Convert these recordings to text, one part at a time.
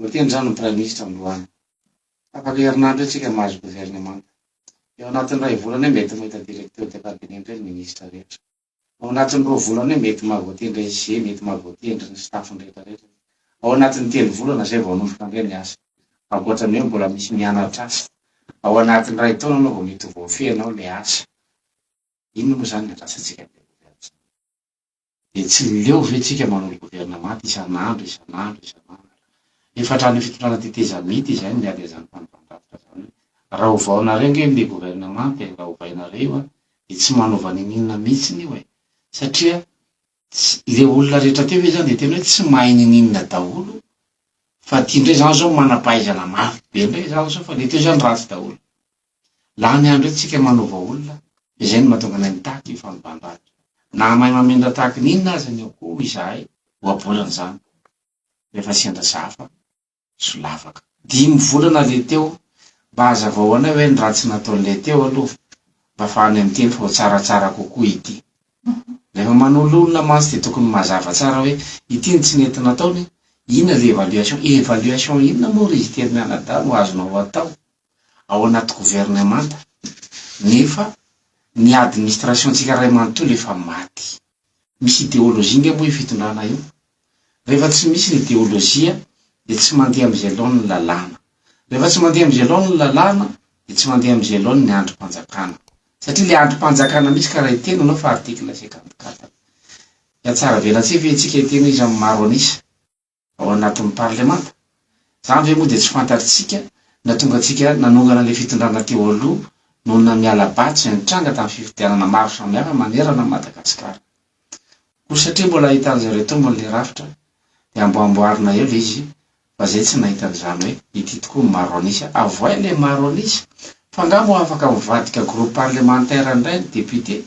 Voateny izany ny Praiminisitra androany. Tapaka herinandro eo isika mahazo governemanta. Eo anatin'ny iray volana eo mety mahita Directeur de Cabinet indray ny Ministra rehetra. Ao anatin'ny roa volana eo mety maha voatendry SG, mety maha voatendry ny staff-ny rehetra rehetra. Ao anatin'ny telo volana izay vao hanomboka indray ny asa. Ankoatran'ny hoe mbola misy mianatra asa. Ao anatin'ny iray taona ianao vao mety ho voafehinao ilay asa. Inona moa izany ny andrasantsika amin'ilay governemanta izany? Dia tsy leo ve tsika manao ny governemanta isan'andro, isan'andro, isan'andro? Efa hatramin'ny fitondrana tetezamita izay no miady an'izany fanapahan-davitra izany hoe rahovaonareo ange ny governemanta e, rahovainareo a! dia tsy manaova niniana mihitsiny io e! satria tsy, le olona rehetra teo ve zany dia tena hoe tsy mahay niniana daholo fa ty ndray zany zao manampahaizana mafy be ndray zany zao fa le teo zany ratsy daholo. Lany andro etsy tsika manaova olona fa izay no mahatonga anay mitaky io fanovandranjo. Naha mahay mamindra tahaky ny inona aza ny akoho izahay, ohabolana izany, rehefa sendra sahafa. solavaka. Dimy volana le teo, mba hazavao anay hoe ny ratsy nataony le teo aloha mba afahanay miteny fa ho tsaratsara kokoa ity. Rehefa manolo olona mantsy dia tokony mazava tsara hoe ity no tsy nety nataony, inona le evaluation, evaluation inona moa ry izy telo mianadahy no azonao atao ao anaty governemanta nefa ny administration-tsika iray manontolo efa maty. Misy ideologie nga moa io fitondrana io? Rehefa tsy misy ny ideologie dia tsy mandeha amin'izay laoniny ny lalàna. Rehefa tsy mandeha amin'izay laoniny ny lalàna dia tsy mandeha amin'izay laoniny ny andrim-panjakana. Satria ilay andrim-panjakana misy ka raha hiteny ianao fa article cinquante quatre dia hatsaravelantsika ve antsika hiteny hoe iza no maro an'isa? ao anatin'ny parlemanta. Izany ve moa dia tsy fantatritsika nahatonga antsika nanongana ilay fitondrana teo aloha noho ny namiala ba tsy nitranga tamin'ny fifidianana maro samihafa manerana an'i Madagasikara? Koa satria mbola ahitan-dry zareo tombony ilay rafitra dia amboamboarina eo ilay izy fa izay tsy nahita an'izany hoe ity tokoa no maro an'isa avoay ilay maro an'isa fa angaha moa afaka mivadika groupe parlementaire indray ny députés?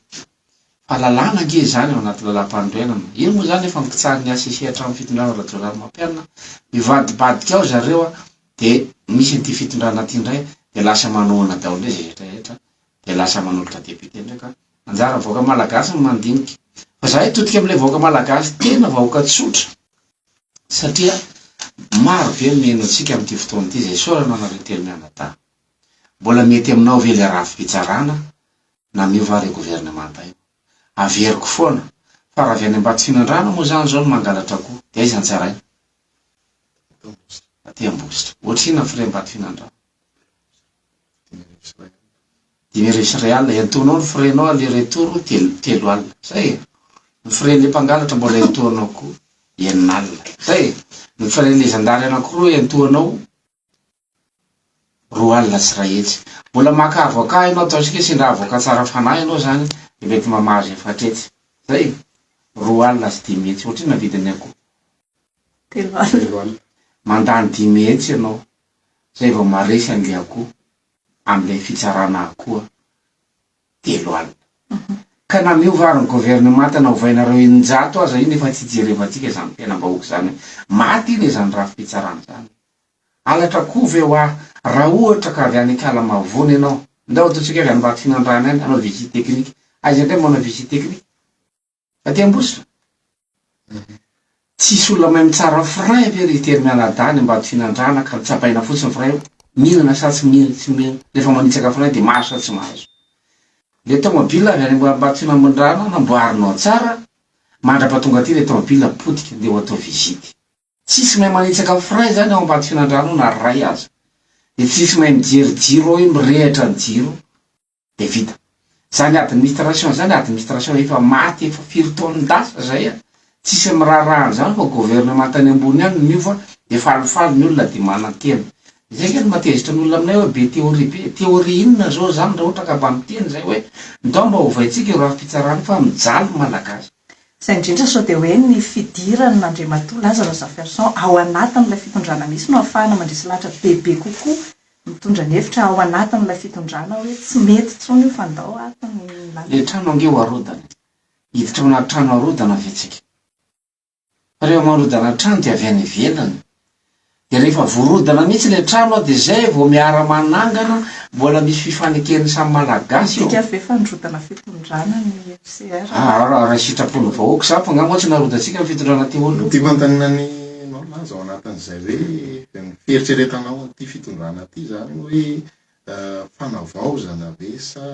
Fa lalàna ange izany ao anaty lalam-panorenana. Io moa izany efa mikitsaha ny HCC hatramin'ny fitondran'i Rajaonarimampianina. Mivadibadika ao zareo an, dia misy an'ity fitondrana ity indray dia lasa manohana daholo ilay rehetra rehetra, dia lasa manolotra député indray ka. Anjaran'ny vahoaka malagasy ny mandinika. Fa izahay hitodika amin'ilay vahoaka malagasy tena vahoaka tsotra satria maro be ny mino antsika amin'ity fotoana ity izay isaorana anareo telo mianadahy. Mbola mety aminao ve ilay rafi-pitsarana na miova ary governemanta io. Averiko foana, fa raha avy any Ambatsimindrano moa izany izao no mangalatra akoho, dia aiza ny tsaraina? Aty Ambositra. Ohatrinona ny frais Ambatofinandrano? Dimy arivo sy iray alina. Entohinao ny frais nao aller retour telo alina. Izay e! Ny frais an'ilay mpangalatra mbola entohinao koa enina alina. Izay e! Ny frais an'ilay zandary anankiroa entohinao. roa alina sy iray hetsy. Mbola maka avocat ianao, ataontsika hoe sendra avocat tsara fanahy ianao izany dia mety mamaha azy efatra hetsy. Izay e! roa alina sy dimy hetsy. Ohatrinona ny vidin'ny akoho? Telo alina. Telo alina. Mandany dimy hetsy ianao, izay vao maresy an'ilay akoho, amin'ilay fitsarana akoho. telo alina. Ka na miova ary ny governemanta na ovainareo eninjato aza iny efa tsy ijerevantsika izany mpiainam-bahoaka izany hoe maty iny izany rafi-pitsarana izany. Halatra akoho ve hoa raha ohatra ka avy any Ikala Mavony ianao? Ndao ataontsika avy any Ambatofinandrahana any hanao visite technique. Aiza indray manao visite technique? Aty Ambositra? Tsisy olona mahay mitsara frein ve ry tery mianadahy any ambado finandrana ka tsapaina fotsiny frein io mihinana sa tsy mihinana tsy mihinana rehefa manitsaka frein de mahazo sa tsy mahazo le tomobile avy any ambado finandrana namboarinao tsara mandrapa tonga aty le tomobile potika ndeha ho atao visite tsisy mahay manitsaka frein zany ao ambado finandrana ao na ray aza de tsisy mahay mijery jiro ao hoe mirehitra ny jiro de vita. Zany administration zany administration efa maty efa firy taonin-dasa zay an! Tsisy miraharaha an'zany fa gouvernement tany ambony any no niova de falifaly ny olona de manantena. Zay nge no mahatezitra ny olona aminay hoe be théorie be. Théorie inona zao zany raha ohatra ka mba miteny zay hoe ndao mba ovaintsika io rafi-pitsarana io fa mijaly ny malagasy. Izay indrindra sao dia hoe ny fidiran'Andriamatoa Lazarus Jafferson ao anatin'ilay fitondrana misy no ahafahana mandresy lahatra bebe kokoa mitondra ny hevitra ao anatin'ilay fitondrana hoe tsy mety intsony io fa ndao ato ny lalana. Ilay trano ange ho arodana e! Hiditra ao anaty trano arodana ve tsika? Rehefa marodana trano dia avy any ivelany, dia rehefa vorodana mihitsy ilay trano an dia zay vao miara manangana, mbola misy fifaneken'ny samy malagasy eo. Midika ve fa nirodana fitondrana ny FCR? Aa raha ny sitrapon'ny vahoaka izany fa nga moa tsy narodantsika ny fitondrana teo aloha? Ity manontaniana ny nao milaza ao anatin'izay hoe ny fieritreretanao an'ity fitondrana ity izany hoe fanavaozana ve sa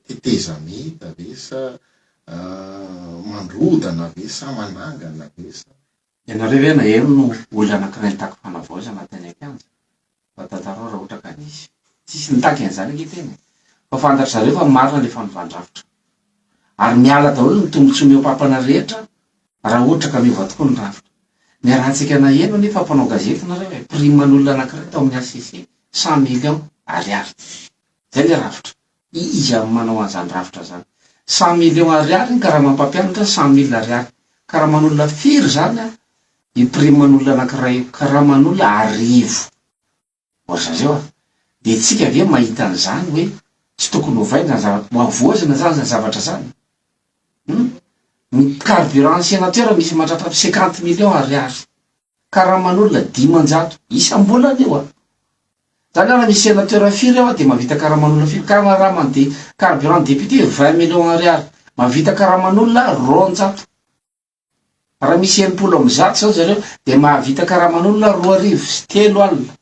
tetezamita ve sa mandrodana ve sa manangana ve sa. Ianareo ve maheno no olona anankiray nitaky fanavaozana tany an-kianja? Mba tantarao raha ohatra ka nisy. Tsisy nitaky an'izany ange tena e! Fa fantatry zareo fa marina le fanovan-drafitra. Ary miala daholo ny tombotsoa mihoa-papana rehetra raha ohatra ka miova tokoa ny rafitra. Niarahantsika naheno anie fa mpanao gazety nareo e, prime an'olona anankiray tao amin'ny HCC cent millions ariary. Zay le rafitra. Iza no manao an'izany rafitra izany? Cent millions ariary ny karama mpampianatra, cent mille ariary. Karaman'olona firy izany an? Ny primen'olona anankiray io. Karaman'olona arivo. Ry zareo an! Dia tsika ve mahita an'izany hoe tsy tokony hovaina izany zavatra, mba hovoazina izany izany zavatra izany? Hum? Ny carburant en sénateur misy mandratra cinquante millions ariary. karaman'olona dimanjato isam-bolana io an! Zany ara misy senateur firy eo an de mahavita karaman'olona firy? Karaman'ny de carburant député vingt millions ariary mahavita karaman'olona roanjato raha misy enimpolo amby zato zany zareo de mahavita karaman'olona roa arivo sy telo alina.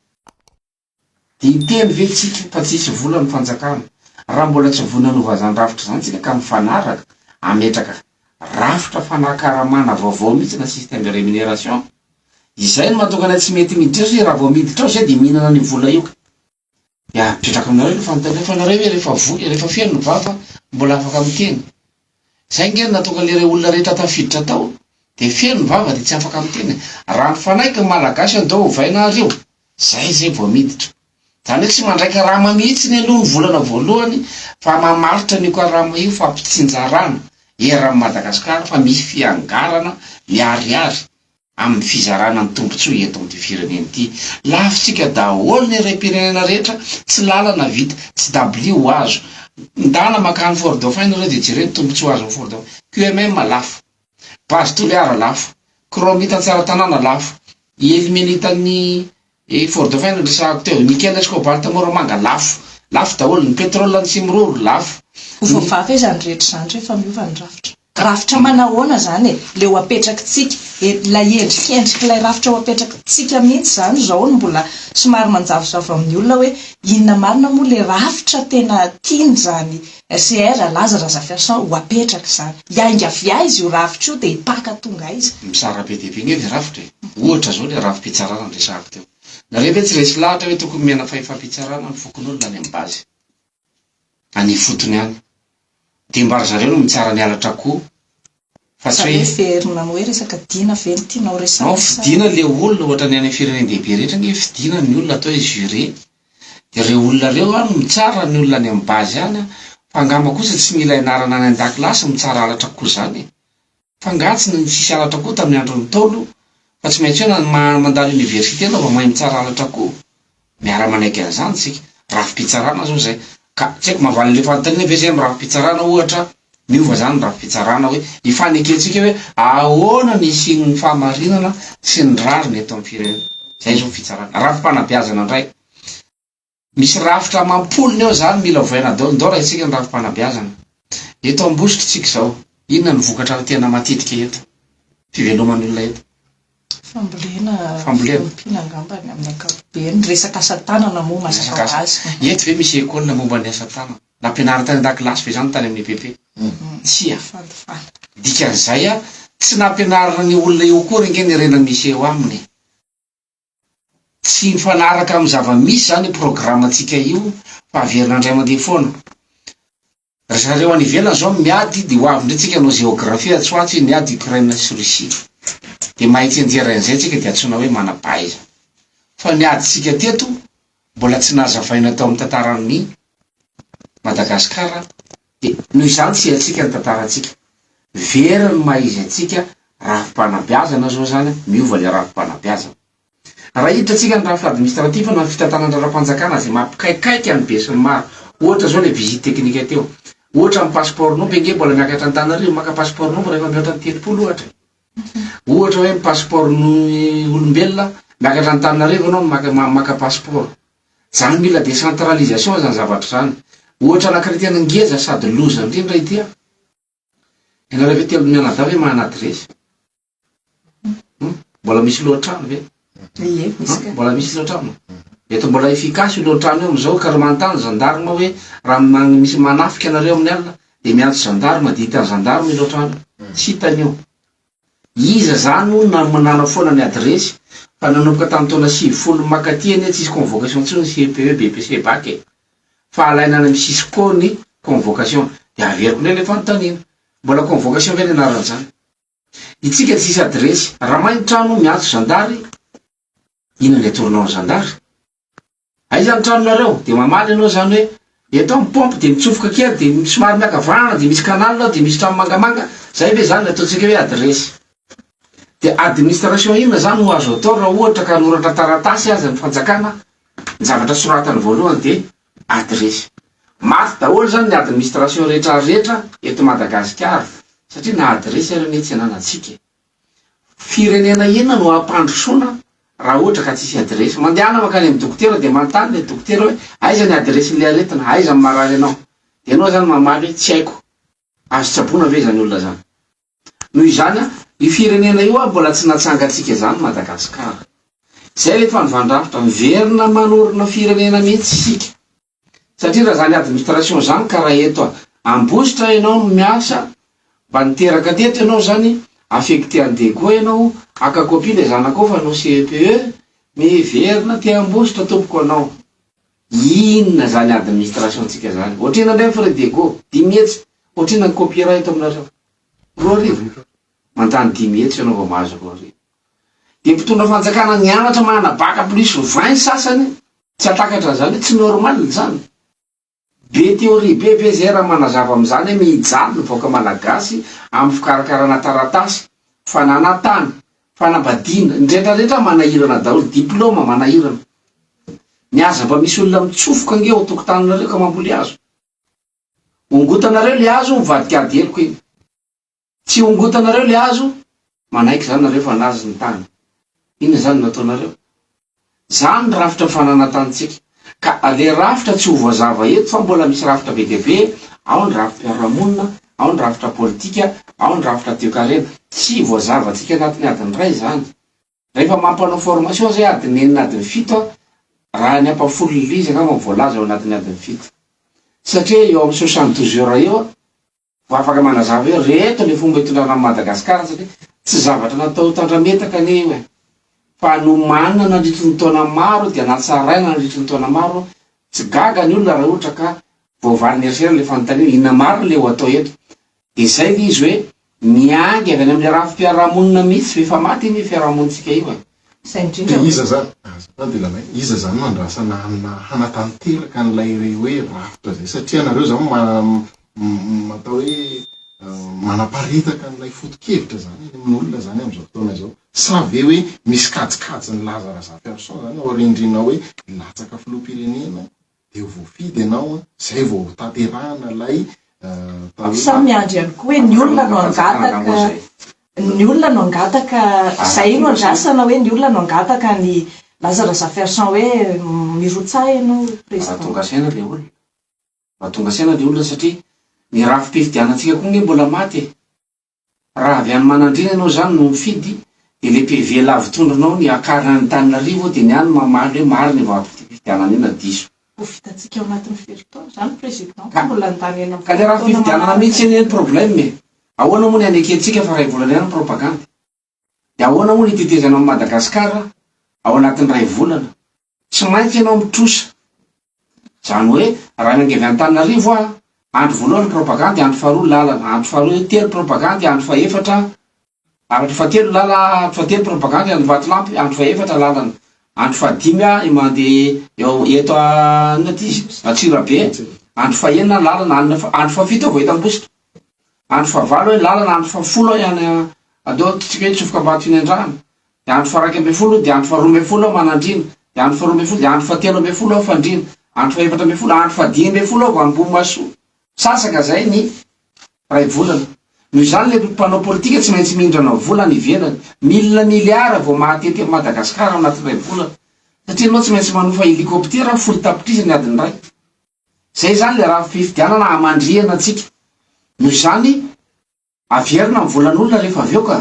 Intelo ve tsika fa tsisy vola ny fanjakana? Raha mbola tsy voa ny hanova zany rafitra izany tsika ka mifanaraka hametraka rafitra fanakaramana vaovao mihitsy na système de rémunération izay no mahatonga anay tsy mety miditra eo satria raha vao miditra ao izay dia mihinana an'io vola io ka dia apetraka aminareo ilay fanontaniana fa nareo ve rehefa voa rehefa feno ny vava mbola afaka miteny? Zay nge no natonga le re olona rehetra tafiditra tao de feno ny vava de tsy afaka miteny e! Raha mifanaiky ny malagasy andao ovaina ary io zay zay vao miditra! Zany hoe tsy mandray karama mihitsiny aloha ny volana voalohany fa mamaritra an'io karama io fa ampitsinjarana eran'i Madagascar fa misy fiangarana miharihary! amin'ny fizarana ny tombontsoa eto amin'ity firenena ity. Lavintsika daholo ny harem-pirenena rehetra, tsy lalana vita, tsy dabilio ho azo. Ndana makany Fort Dauphin nareo dia jereo ny tombontsoa azo ao Fort Dauphin. QMM lafo, Base Toliara lafo, Chromite Antsaratanàna lafo, Illuminite an'i Ny Ford Find noresahako teo, ny Kia Let's Go Balta moramanga lafo, lafo daholo, ny pétrole ny Simroro lafo, Ho voavaha ve izany rehetra izany rehefa miova ny rafitra? Rafitra manahoana izany e? Ilay ho apetrakitsika, ilay endrikendrik'ilay rafitra ho apetrakitsika mihitsy izany izao no mbola somary manjavozavo amin'ny olona hoe inona marina moa ilay rafitra tena tiany izany RCR, Alaza Razafiarison ho apetraka izany. Hiainga avy aiza io rafitra io dia hipaka tonga aiza? Mizara be dia be ange ilay rafitra e! Ohatra izao ilay rafi-pitsarana niresahako teo. Nareo ve tsy resy lahatra hoe tokony miaina fahefam-pitsarana amin'ny fokonolona any amin'ny base, any ifotony any? Dia mba ry zareo no mitsara ny halatra akoho. Fa tsy hoe. Heverina ny hoe resaka Dina ve no tianao resahina sa. Nao fidina le olona ohatra ny any firenendehibe rehetra nge fidina ny olona atao hoe juré de reo olona reo an no mitsara ny olona any am base any an fa angamba kosa tsy mila ianarana any andakilasy mitsara halatra koa zany e fa nga tsy nisy halatra koa tamin'ny andron'ny ntaolo fa tsy maintsy hoe mandalo université anao vao mahay mitsara halatra koa Miara-manaiky an'izany isika. Rafi-pitsarana izao izay. Ka tsy haiko mahavaly an'ilay fanontaniana ve izay amin'ny rafi-pitsarana ohatra, miova izany ny rafi-pitsarana hoe ny fanekentsika hoe ahoana ny hisian'ny fahamarinana sy ny rariny eto amin'ny firenena. Izay izao ny fitsarana. Rafi-panabeazana indray. Misy rafitra amam-polony eo izany mila ovaina daolindao raha isika ny rafi-panabeazana. Eto Ambositra isika izao, inona no vokatra tena matetika eto? Fiveloman'ny olona eto. Fambolena, fiompiana angamba ny amin'ny ankapobeny, resaka asa tanana moa mazava ho azy. Eto ve misy école momba ny asa tanana? Nampianarina tany an-dakilasy ve izany tany amin'ny EPP? Tsia. Dikan'izay a, tsy nampianarina ny olona eo akory ange ny harena misy eo aminy e. Tsy mifanaraka amin'ny zava-misy izany io programme-ntsika io fa averina indray mandeha foana. Ry zareo any ivelany zao no miady de hoavy ndray tsika anao géographie atsy ho atsy miady Ukraine sy Russie de mahay tsenjera anzay tsika de antsoina hoe manapaiza fa ny ady tsika teto mbola tsy nazavaina tao am tantaran'ny Madagascar de noho izany tsy haintsika ny tantarantsika very ny maha izy antsika rafi-panabeazana zao zany miova le rafi-panabeazana. Raha hiditra tsika ny rafitra administratif na ny fitantanana raharaham-panjakana izay mampikaikaika an'i be sy ny maro, ohatra zao ilay visite technique teo, ohatra ny passeport nombre ange mbola miakatra Antananarivo maka passeport nombre rehefa mihoatra ny telopolo ohatra e! ohatra hoe ny passeport ny olombelona miakatra Antananarivo ianao maka maka passeport, zany mila décentralisation zany zavatra zany, ohatra anankiray tena ngeza sady loza ndrindra ity an! ianareo ve telo mianadahy ve mahana adresse? Hmm? Mbola misy lohan-trano ve? Ie, misy ka. Mbola misy lohan-trano? Eto mbola efficace io lohan-trano io amin'izao ka raha manontany gendarme hoe raha man- misy manafika anareo amin'ny alina dia miantso gendarme dia hitan'ny gendarme io lohan-trano io. Tsy hitany io. Iza zany hono na- manana foana ny adiresy fa nanomboka tamin'ny taona sivifolo mankaty anie tsisy convocation intsony CPE, BEPC, bac e. Fa alaina any amin'ny cisco ny convocation. Dia averiko indray le fanontaniana. Mbola convocation ve ny anarany zany? Itsika tsisy adiresy. Raha may ny trano miantso zandary inona ny atoronao ny zandary? Aiza ny tranonareo? Dia mamaly ianao izany hoe eto aho mipompe dia mitsofoka kely dia somary miankavanana dia misy canal ao dia misy trano mangamanga, izay ve izany ny ataontsika hoe adiresy? Dia administration inona izany no azo atao raha ohatra ka hanoratra taratasy aza ny fanjakana, ny zavatra soratany voalohany dia Adiresy. Maty daholo zany ny administration rehetra rehetra eto Madagasikara satria na adiresy ary anie tsy ananatsika e. Firenena inona no hampandrosoana raha ohatra ka tsisy adiresy. Mandehana mankany amin'ny dokotera dia manontany le dokotera hoe aiza ny adiresin'le aretina, aiza ny marary anao. Dia ianao zany mamaly hoe tsy haiko. Azo tsaboina ve zany olona zany. Noho izany, io firenena io ary mbola tsy natsangantsika izany Madagascar. Izay ilay fanovan-drafitra, miverina manorina firenena mihitsy isika. Satria raha izany administration izany ka raha eto Ambositra ianao no miasa, mba niteraka teto ianao izany, affecté any Degua ianao, haka copie ilay zanakao fa hanao CEPE, miverina aty Ambositra tompoko ianao. Inona zany administration tsika zany? Otrina ndray ny frais de go? Dimy hetsy? Otrina ny copyright aminareo? Roa arivo? Mandany dimy hetsy ianao vao mahazo roa arivo? Dia mpitondra fanjakana nianatra manana bac plus vingt ny sasany tsy hatakatra an'izany hoe tsy normal izany? Be theorie be ve zay raha manazava amin'izany hoe mijaly ny vahoaka malagasy amin'ny fikarakarana taratasy, fananantany, Fanambadiana, ny rehetra rehetra manahirana daholo, diploma manahirana, ny aza mba misy olona mitsofoka ange ao an-tokotaninareo ka mamboly hazo, hongotanareo le hazo mivadika ady heloka iny, tsy hongotanareo le hazo manaiky zany nareo fa nazy ny tany, inona zany no ataonareo? Izany ny rafitra fananantantsika. Ka le rafitra tsy ho voazava eto fa mbola misy rafitra be dia be, ao ny rafi-piarahamonina, ao ny rafitra politika, ao ny rafitra toekarena. Tsy voazavantsika anatin'ny adiny iray izany. Rehefa mampanao formation izay adiny enina adiny fito a, raha ny ampahafolon'ilay izy angamba voalaza ao anatin'ny adiny fito. Satria eo amin'ny soixante douze heures eo a. Mba afaka manazava eo reto le fomba itondrana an'i Madagascar satria tsy zavatra natao tandrametaka anie io e! Fa nomanina nandritry ny taona maro dia natsaraina nandritry ny taona maro, tsy gaga ny olona raha ohatra ka voavaly ny eritreriny le fanontaniana inona marina le ho atao eto? Dia zay le izy hoe miainga avy any amle rafi-piarahamonina mihitsy, efa maty anie fiarahamonintsika io e! Izay indrindra hoe. Iza izany, azafady Ilalao e, iza izany no andrasana hanina hanatanteraka an'ilay hoe rafitra izay satria ianareo izany ma, atao hoe manaparitaka an'ilay foto-kevitra izany any amin'olona izany amin'izao fotoana izao. Sa ve hoe misy kajikajy nilaza Razafiarison izany aoriandriana hoe latsaka filoham-pirenena? dia voafidy ianao an, izay vao tanterahana ilay atao hoe. Samy miandry ihany koa hoe ny olona no hangataka, ny olona no hangataka, izay no andrasana hoe ny olona no hangataka an'i Laza Razafiarison hoe mirotsaha ianao Président. Raha tonga saina ilay olona, raha tonga saina ilay olona satria ny rafi-pifidianantsika koa ange mbola maty e. Raha avy any Manandriana ianao izany no mifidy dia ilay PV lavitondronao ny akarina any Antananarivo dia ny any mamaly hoe marina io vatom-pifidianana io na diso. Ho vitantsika ao anatin'ny firy taona izany président fa mbola handany enina ambin'ny folo taona manaraka. Ka ny rafi-pifidianana mihintsy anie ny problème e. Ahoana moa ny hanekentsika fa iray volana ihany ny propagande. Dia ahoana moa ny tetezana amin'i Madagasikara ao anatin'ny iray volana? Tsy maintsy ianao mitrosa. Izany hoe raha miainga avy Antananarivo aho, andro voalohany propagandy, andro faharoa lalana, andro faharoa telo propagandy, andro fahefatra, andro fahatelo lala, andro fahatelo propagandy, andro vatolampy, andro fahefatra lalana, andro fahadimy aho i mandeha eo eto inona ity izy Antsirabe, andro fahenina lalana, andro fahafito aho vao eto Ambositra. Andro fahavalo hoe lalana, andro fahafolo hoe any aleo antsika hitsofoka ambany fnendrahana, dia andro faharaika ambin'ny folo dia andro faharoa ambin'ny folo hoe manandriana, dia andro faharoa ambin'ny folo dia andro fahatelo ambin'ny folo hoe fandriana, andro fahefatra ambin'ny folo, andro fahadimy ambin'ny folo hoe ambohimasoa. Sasaka izay ny iray volana. Noho izany ilay mpanao politika tsy maintsy mindrana vola any ivelany. Milina miliara vao mahatety an'i Madagasikara ao anatin'ny iray volana. Satria ianao tsy maintsy manofa helikoptera folo tapitrisa ny adiny iray. Izay izany ilay raha fifidianana hamandrihana antsika. Noho izany, averina ny volan'olona rehefa avy eo ka.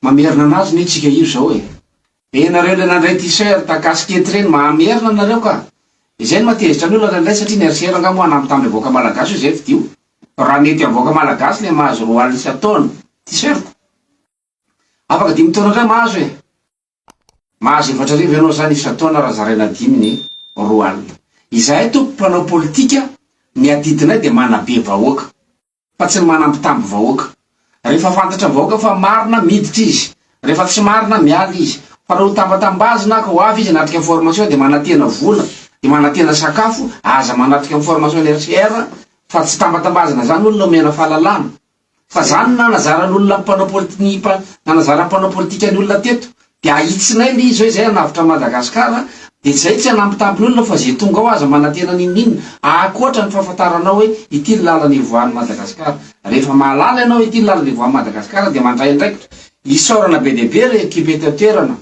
Mamerina anazy anie tsika io izao e. Dia ianareo ilay nandray t-shirt casquette ireny mahamerina anareo ka. Izay no mahatezitra ny olona indray satria ny RCR angaha moa hanampy tamby avoaka malagasy io izay fidio. Raha mety avoaka malagasy ilay mahazo roa alina isan-taona, t-shirt. Afaka dimy taona indray mahazo e. Mahazo efatra arivo ianao zany isan-taona raha zaraina dimy ny roa alina. Izahay tompoko mpanao politika ny adidinay dia manabe vahoaka fa tsy ny manambitamby vahoaka. Rehefa fantatra vahoaka fa marina miditra izy, rehefa tsy marina miala izy. Fa raha ho tambatambazina ka ho avy izy hanatrika formation dia manantena vola, dia manantena sakafo, aza manatrika ny formation ny HCR fa tsy tambatambazina zany olona omena fahalalana. Fa zany no nanazaran'olona ny mpanao politi ny mpa nanazara ny mpanao politika ny olona teto de ahitsinay nge izy hoe zay hanavotra an'i Madagascar de zay tsy hanambitamby ny olona fa ze tonga ao aza manantena n'inon'inona akoatra ny fahafantaranao hoe ity ny lalana ivoahan'i Madagascar rehefa mahalala ianao hoe ity ny lalana ivoahan'i Madagascar de mandray andraikitra isaorana be dia be re ekipa eto an-toerana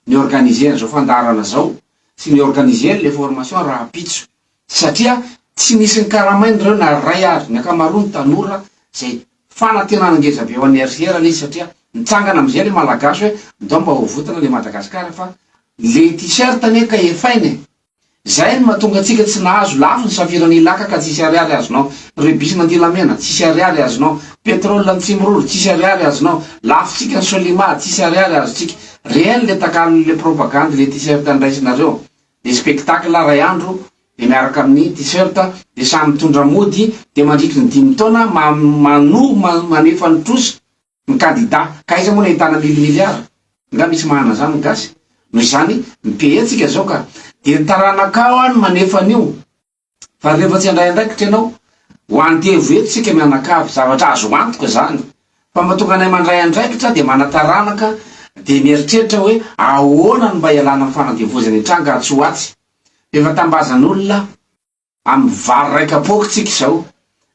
ni-organiser an'izao fandaharana zao sy ni-organiser le formation rahampitso satria tsy nisy nikaramaina ireo na iray ary, ny ankamaroany tanora, izay fanantenana ngeza be ho an'ny erihirana izy satria nitsangana amin'izay ilay Malagasy hoe ndao mba hovotana ilay Madagascar fa ilay T-shirt anie ka efaina e! izay no mahatonga antsika tsy nahazo, lafo ny safirana Ilaka ka tsisy ariary azonao, rubis Mandilamena tsisy ariary azonao, petrol any Tsimiroro tsisy ariary azonao, lafontsika ny Solimar tsisy ariary azontsika, réel ilay takalon'ilay propagandy ilay T-shirt andraisinareo. Ny spectacle iray andro dia miaraka amin'ny t-shirt dia samy mitondra mody dia mandritry ny dimy taona mano manefa ny trosa ny kandida ka aiza moa no ahitana mille milliards nga misy mahana zany ny gasy noho izany ny pays tsika zao ka dia ny taranakao any manefa an'io Fa rehefa tsy handray andraikitra ianao, ho andevo eto isika mianakavy, zavatra azo antoka izany, fa mba tonga anay mandray andraikitra dia manataranaka dia mieritreritra hoe ahoana no mba hialana amin'ny fanandevozana hitranga atsy ho atsy. Efa tambazan'olona amin'ny vary iray kapoaka isika izao,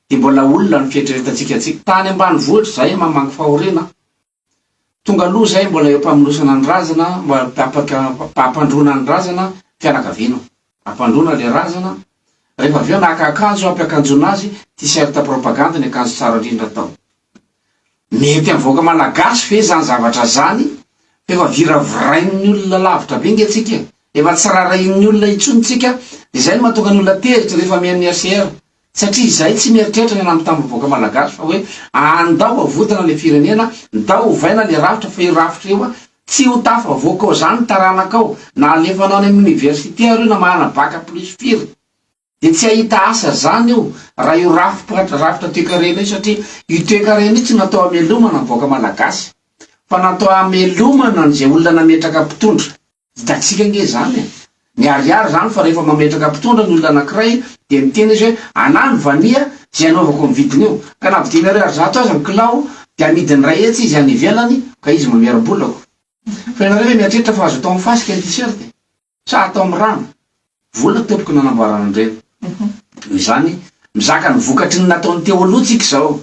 dia mbola olona ny fieritreretantsika antsika. Tany ambanivohitra izahay mamangy fahoriana an! Tonga aloha izay mbola eo am-pamonosana ny razana, ampandroana ny razana fianakaviana, ampandroana ilay razana, rehefa avy eo naka akanjo ampiakanjoana azy, t-shirt propagande ny akanjo tsara indrindra atao. Mety amin'ny vahoaka malagasy ve izany zavatra izany fa efa viravirain'ny olona lavitra be nge tsika e, efa tsy raharahian'ny olona intsony tsika, dia izay no mahatonga ny olona tezitra rehefa mihaino ny HCR, Satria izahay tsy mieritreritra ny hanamby tamboho vahoaka malagasy fa hoe andao havodana le firenena, ndao hovaina le rafitra fa io rafitra io an tsy ho tafavoaka ao zany ny taranakao na alefanao any amin'ny université ary io na manana bac plus firy de tsy hahita asa zany io raha io rafitra rafitra toekarena io satria io toekarena io tsy natao hamelomana ny vahoaka malagasy fa natao hamelomana an'izay olona nametraka mpitondra. Hitantsika ange izany e! Miharihary izany fa rehefa mametraka mpitondra ny olona anankiray dia miteny izy hoe anah ny vania izay anaovako ny vidiny io ka na dimy ariary zato aza ny kilao dia amidiny iray hetsy izy any ivelany ka izy mamerim-bolako. Fa ianareo ve mieritreritra fa azo atao amin'ny fasika ny t-shirt e? Sa atao amin'ny rano? Vola tompoko nanamboarana an'ireny. Noho izany, mizaka ny vokatry ny nataon'i Teoloha tsika izao.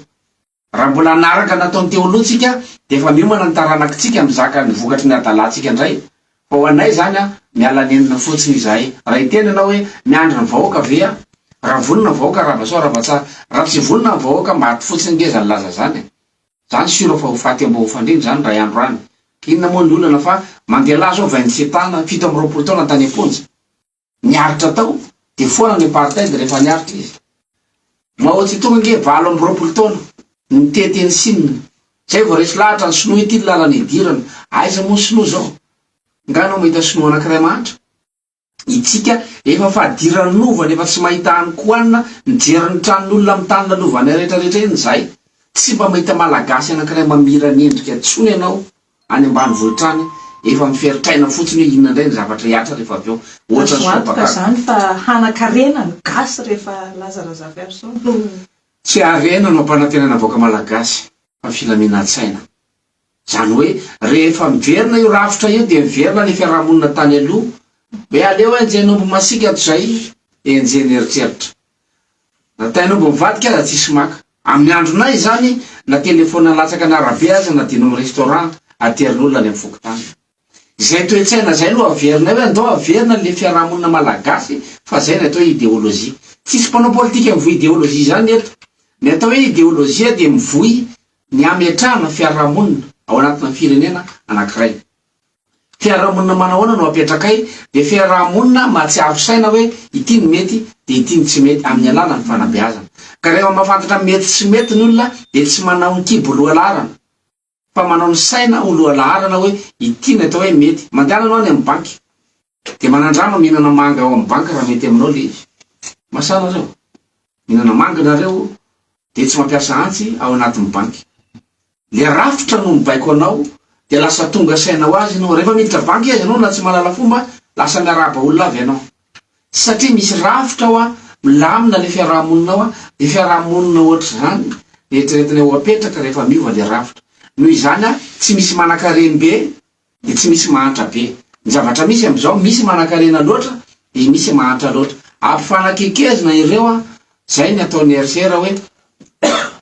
Raha mbola hanaraka ny nataon'ny Teoloha tsika dia efa miomana ny taranakitsika mizaka ny vokatry ny hadalantsika indray fa ho anay izany an miala nenina fotsiny izahay. Raha hiteny ianao hoe miandry ny vahoaka ve aho? Raha vonona ny vahoaka Rabasoa Rabatsara. Raha tsy vonona ny vahoaka maty fotsiny nge izany laza izany e. Izany sûr fa ho faty ambohofandriana izany iray andro any. Inona moa ny olana fa mandeha lahy zao vaindotsy tana fito amby roapolo taona tany am-ponja. Niaritra tao dia foana ny apartheid rehefa niaritra izy. Mao tse tung ange valo amby roapolo taona nitety an'i Sina. Zay vao resy lahatra ny sinoa ity ny lalana idirana. Aiza moa ny sinoa zao? Nga anao mahita sinoa anakiray mahantra? Itsika efa fadiran'ny lova nefa tsy mahita any koanina mijery ny tranon'olona amin'ny tany lalovanay retraretra eny zay. Tsy mba mahita malagasy anakiray mamirany endrika tsony ianao Any ambanivohitra any efa miferotraina fotsiny hoe inona indray ny zavatra hiatra rehefa avy eo. Ohatra ny soa bakaka. Azo antoka izany fa hanakarena ny gasy rehefa Laza Razafiarison no. Tsy harena no ampanantenana vahoaka malagasy fa filaminantsaina. Izany hoe rehefa miverina io rafitra io dia miverina ilay fiarahamonina tany aloha. Hoe aleo enjehin'omby masiaka toy izay enjehin'ny eritreritra. Na tain'omby mivadika aza tsisy maka. Amin'ny andronay izany na telefaonina latsaka an'arabe aza na dino amin'ny restaurant aterin'olona any amin'ny fokontany. Izay toe-tsaina izay no averinay hoe andao averina le fiarahamonina malagasy fa izay ny atao ideologie. Tsisy mpanao politika mivoy ideologie izany eto. Ny atao hoe ideologie dia mivoy ny hametrahana fiarahamonina ao anatina firenena anankiray. Fiarahamonina manahoana no apetrakay? Dia fiarahamonina mahatsiaro saina hoe ity no mety dia ity no tsy mety amin'ny alalan'ny fanabeazana. Ka rehefa mahafantatra mety sy mety ny olona dia tsy manao ny kibo lohalaharana fa manao ny saina ho lohalaharana hoe ity no atao hoe mety. Mandehana ianao any amin'ny banky Dia manandrama mihinana manga ao amin'ny banky raha mety aminao ilay izy. Masaha anareo. Mihinana manga ianareo dia tsy mampiasa antsy ao anatin'ny banky. Ilay rafitra no mibaiko anao dia lasa tonga saina ho azy ianao. Rehefa miditra banky aza ianao na tsy mahalala fomba, lasa miarahaba olona avy ianao. Tsy satria misy rafitra ao an, milamina ilay fiaraha-monina ao an, dia fiaraha-monina ohatr'izany no eritreretinay ho apetraka rehefa miova ilay rafitra. Noho izany an, tsy misy manankarem-be dia tsy misy mahantra be. Ny zavatra misy amin'izao, misy manankarena loatra, dia misy mahantra loatra. Ampifanakekezina ireo an! Izay ny ataon'ny RCR hoe,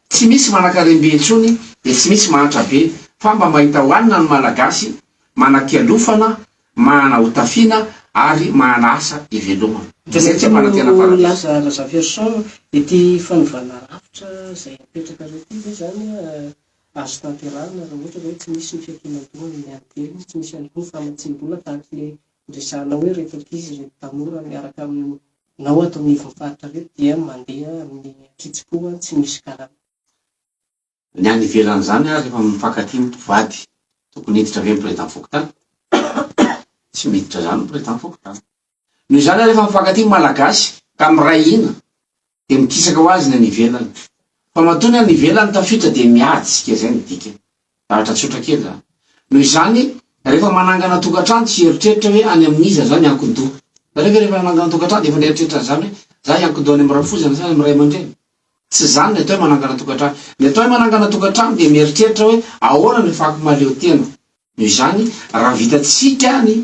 tsy misy manankarem-be intsony, dia tsy misy mahantra be, fa mba mahita hohanina ny Malagasy, manakialofana, mahana hotafiana, ary mahana asa hivelomana. Ka izay tsy hampanantena paradiso. Tokony ho lasa Razafiarison ity fanovana rafitra izay apetrakareo ity ve izany Azo tanterahina raha ohatra izao tsy misy ny fiankinan-doha amin'ny ady telo, tsy misy ihany koa ny famatsiam-bola tahaka ilay niresahanao hoe ireto ankizy, ireto tanora miaraka aminao ato anivon'ny faritra ireto dia mandeha amin'ny an-kitsim-po, tsy misy karama. Ny any ivelan'izany ary efa mifankatia ny mpivady, tokony hiditra ve ny Président fokontany? Tsy miditra izany ny Président fokontany. Noho izany ary efa mifankatia ny Malagasy ka miray hina dia mikisaka ho azy ny any ivelany. Fa matoa ny any ivelany tafiditra dia miajsika izay no dikany. Zavatra tsotra kely izany. Noho izany rehefa manangana tokantrano tsy hieritreritra hoe any amin'iza za miankin-doha. Hitanareo ve rehefa nanangana tokantrano dia efa nieritreritra an'izany hoe za hiankin-doha any amin'ny rafozana sa any amin'ny ray aman-dreny? Tsy izany ny atao hoe manangana tokantrano. Ny atao hoe manangana tokantrano dia mieritreritra hoe ahoana ny fako mahaleo tena. Noho izany, raha vitantsika ny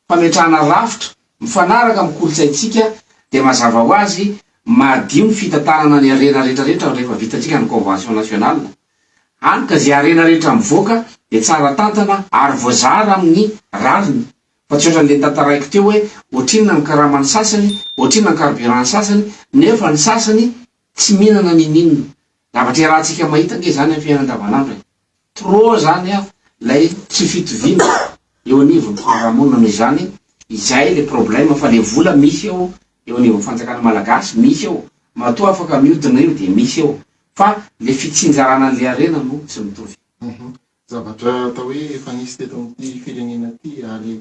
fametrahana rafitra mifanaraka amin'ny kolontsaintsika dia mazava ho azy madio ny fitantanana ny harena rehetrarehetra rehefa vitantsika ny convention nationale. Hany ka izay harena rehetra mivoaka dia tsara tantana ary voazara amin'ny rariny Ohatrinona le tantaraiko teo hoe ohatrinona ny karaman'ny sasany, ohatrinona ny carburant-n'ny sasany, nefa ny sasany tsy mihinana ninoninona. Zavatra iarahantsika mahita ange izany amin'ny fiainana andavanandro e! Trop zany an lay tsy fitoviana eo anivon'ny fiarahamonina noho izany izay le problème fa le vola misy eo eo anivon'ny fanjakana malagasy misy eo matoa afaka miodina io dia misy eo fa le fitsinjarana an'le harena no tsy mitovy. Zavatra atao hoe efa nisy teto amin'ity firenena ity ary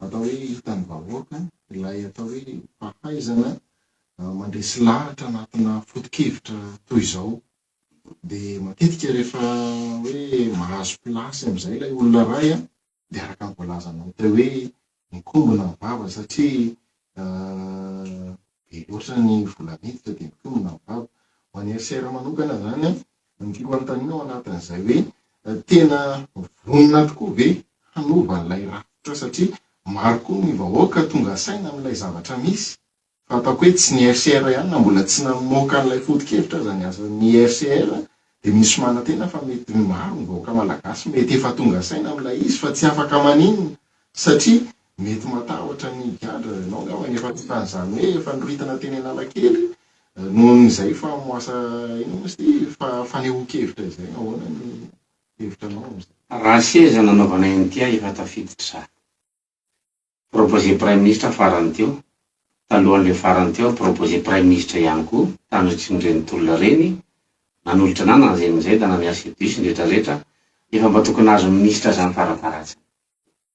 atao hoe hitan'ny vahoaka ilay atao hoe fahaizana mandresy lahatra anatina foto-kevitra toy izao. Dia matetika rehefa hoe mahazo plasy amin'izay ilay olona iray dia araka ny voalazanao teo hoe mikombona ny vava satria be loatra ny vola miditra dia mikombona ny vava. Ho an'i RCR manokana izany an, ny tiako hanontaniana ao anatin'izay hoe tena vonona tokoa ve hanova an'ilay rafitra satria maro koa ny vahoaka tonga saina amin'ilay zavatra misy Fantako hoe tsy ny RCR ihany na mbola tsy namoaka an'ilay foto-kevitra aza ny asan'ny RCR dia misy manantena fa mety ny maro ny vahoaka malagasy mety efa tonga saina amin'ilay izy fa tsy afaka maninona satria mety matahotra ny higadra ianao angamba ny efa tonga an'izany hoe efa noritina teny analakely nohon'izay fa moasa inona moa izy ity fa fanehoan-kevitra izay ahoana ny hevitranao amin'izay. Raha seza nanaovanay an'ity aho efa tafiditra izaho. proposer praiminisitra farany teo, talohan'ilay farany teo proposer praiminisitra ihany koa tamin'ireny tolona ireny, nanolotra anah na anzay na anzay da nanea cedus ny rehetra rehetra, efa mba tokony nahazo minisitra zany faraparatsiny.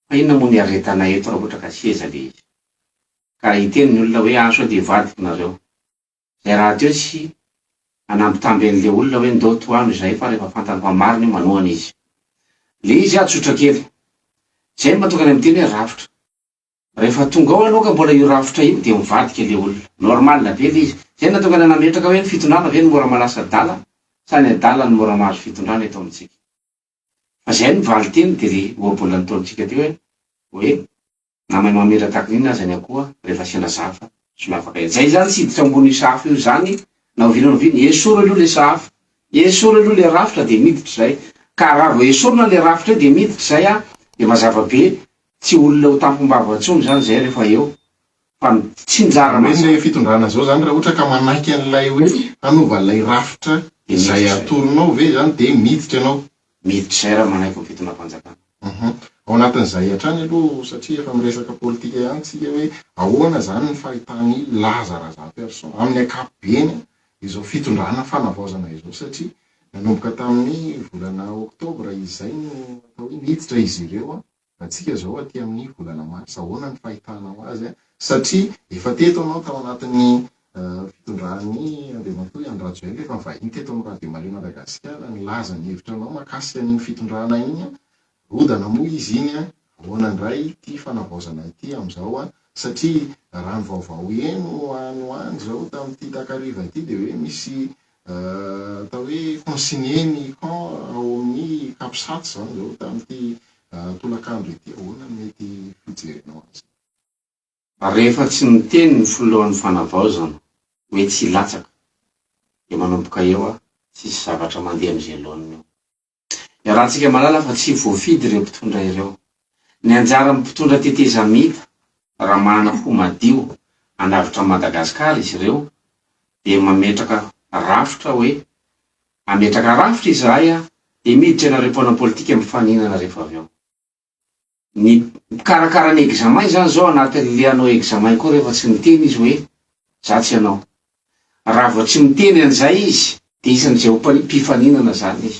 Fa inona moa ny iaretanay eto raha ohatra ka seza le izy. Ka hiteny ny olona hoe ah sao dia vadiko nareo. Zay rahateo tsy nanambitamby an'le olona hoe ndao tohano izahay fa rehefa fantany fa marina io manohana izy. Le izy ah tsotra kely. Zay no mahatonga ny amin'ny teny hoe rafitra. Rehefa tonga ao aloha ka mbola io rafitra io dia mivadika le olona. Normal be le izy. Zay no nahatonga anay nametraka hoe ny fitondrana ve no mora malasa adala sa ny adala no mora mahazo fitondrana eto amintsika. Fa zay no valinteny dia le ohabolan'ny ntaonintsika teo hoe hoe. Na mahay mamira tahaka ny inona aza ny akoha rehefa asiana zafa tsy miavaka ela. Zay zany tsy hiditra ao ambony sahafa io zany na oviana na oviana. Esory aloha le sahafa. Esory aloha le rafitra dia miditra izay. Ka raha vao esorina le rafitra eo dia miditra izay an dia mazava be tsy olona ho tampim-bava intsony izany izay rehefa eo fa ny tsinjara mazava. Hoe ny fitondrana zao zany raha ohatra ka manaiky an'ilay hoe hanova ilay rafitra izay atoronao ve izany dia miditra ianao. Mety izay raha manaiky ny fitonam-panjakana. Uhum. Ao anatin'izay hatrany aloha satria efa miresaka politika ihany tsika hoe ahoana izany ny fahitan'i Laza Razamperson amin'ny ankapobeny izao fitondrana fanavaozana izao satria nanomboka tamin'ny volana oktobra izay no atao hoe niditra izy ireo Antsika izao aty amin'ny volana marsa, ahoana ny fahitanao azy? Satria efa teto ianao tao anatin'ny fitondran'i Andriamatoa Andry Rajoelina, efa nivahiny teto amin'ny Radio Maria Madagasikara, nilaza ny hevitra anao mahakasika an'iny fitondrana iny, rodana moa izy iny, ahoana indray ity fanavaozana ity amin'izao? Satria raha ny vaovao heno any ho any izao tamin'ity takariva ity dia hoe misy atao hoe consigner ny camp ao amin'ny capsat izany izao tamin'ity tolakandro ity, ahoana no mety hijerenao azy? Rehefa tsy niteny ny filohan'ny fanavaozana hoe tsy hilatsaka dia manomboka eo a, tsisy zavatra mandeha amin'izay laoniny eo. Iarahantsika mahalala fa tsy voafidy ireo mpitondra ireo. Ny anjaran'ny mpitondra tetezamita, raha manana hoho madio hanavotra an'i Madagasikara izy ireo, dia mametraka rafitra hoe, hametraka rafitra izahay dia miditra ianareo mpanao politika mifaninana rehefa avy eo. ny mpikarakara ny examen izany zao anaty le hanao examen koa rehefa tsy miteny izy hoe za tsy hanao. Raha vao tsy miteny an'izay izy dia isan'izay ho mpifaninana izany izy.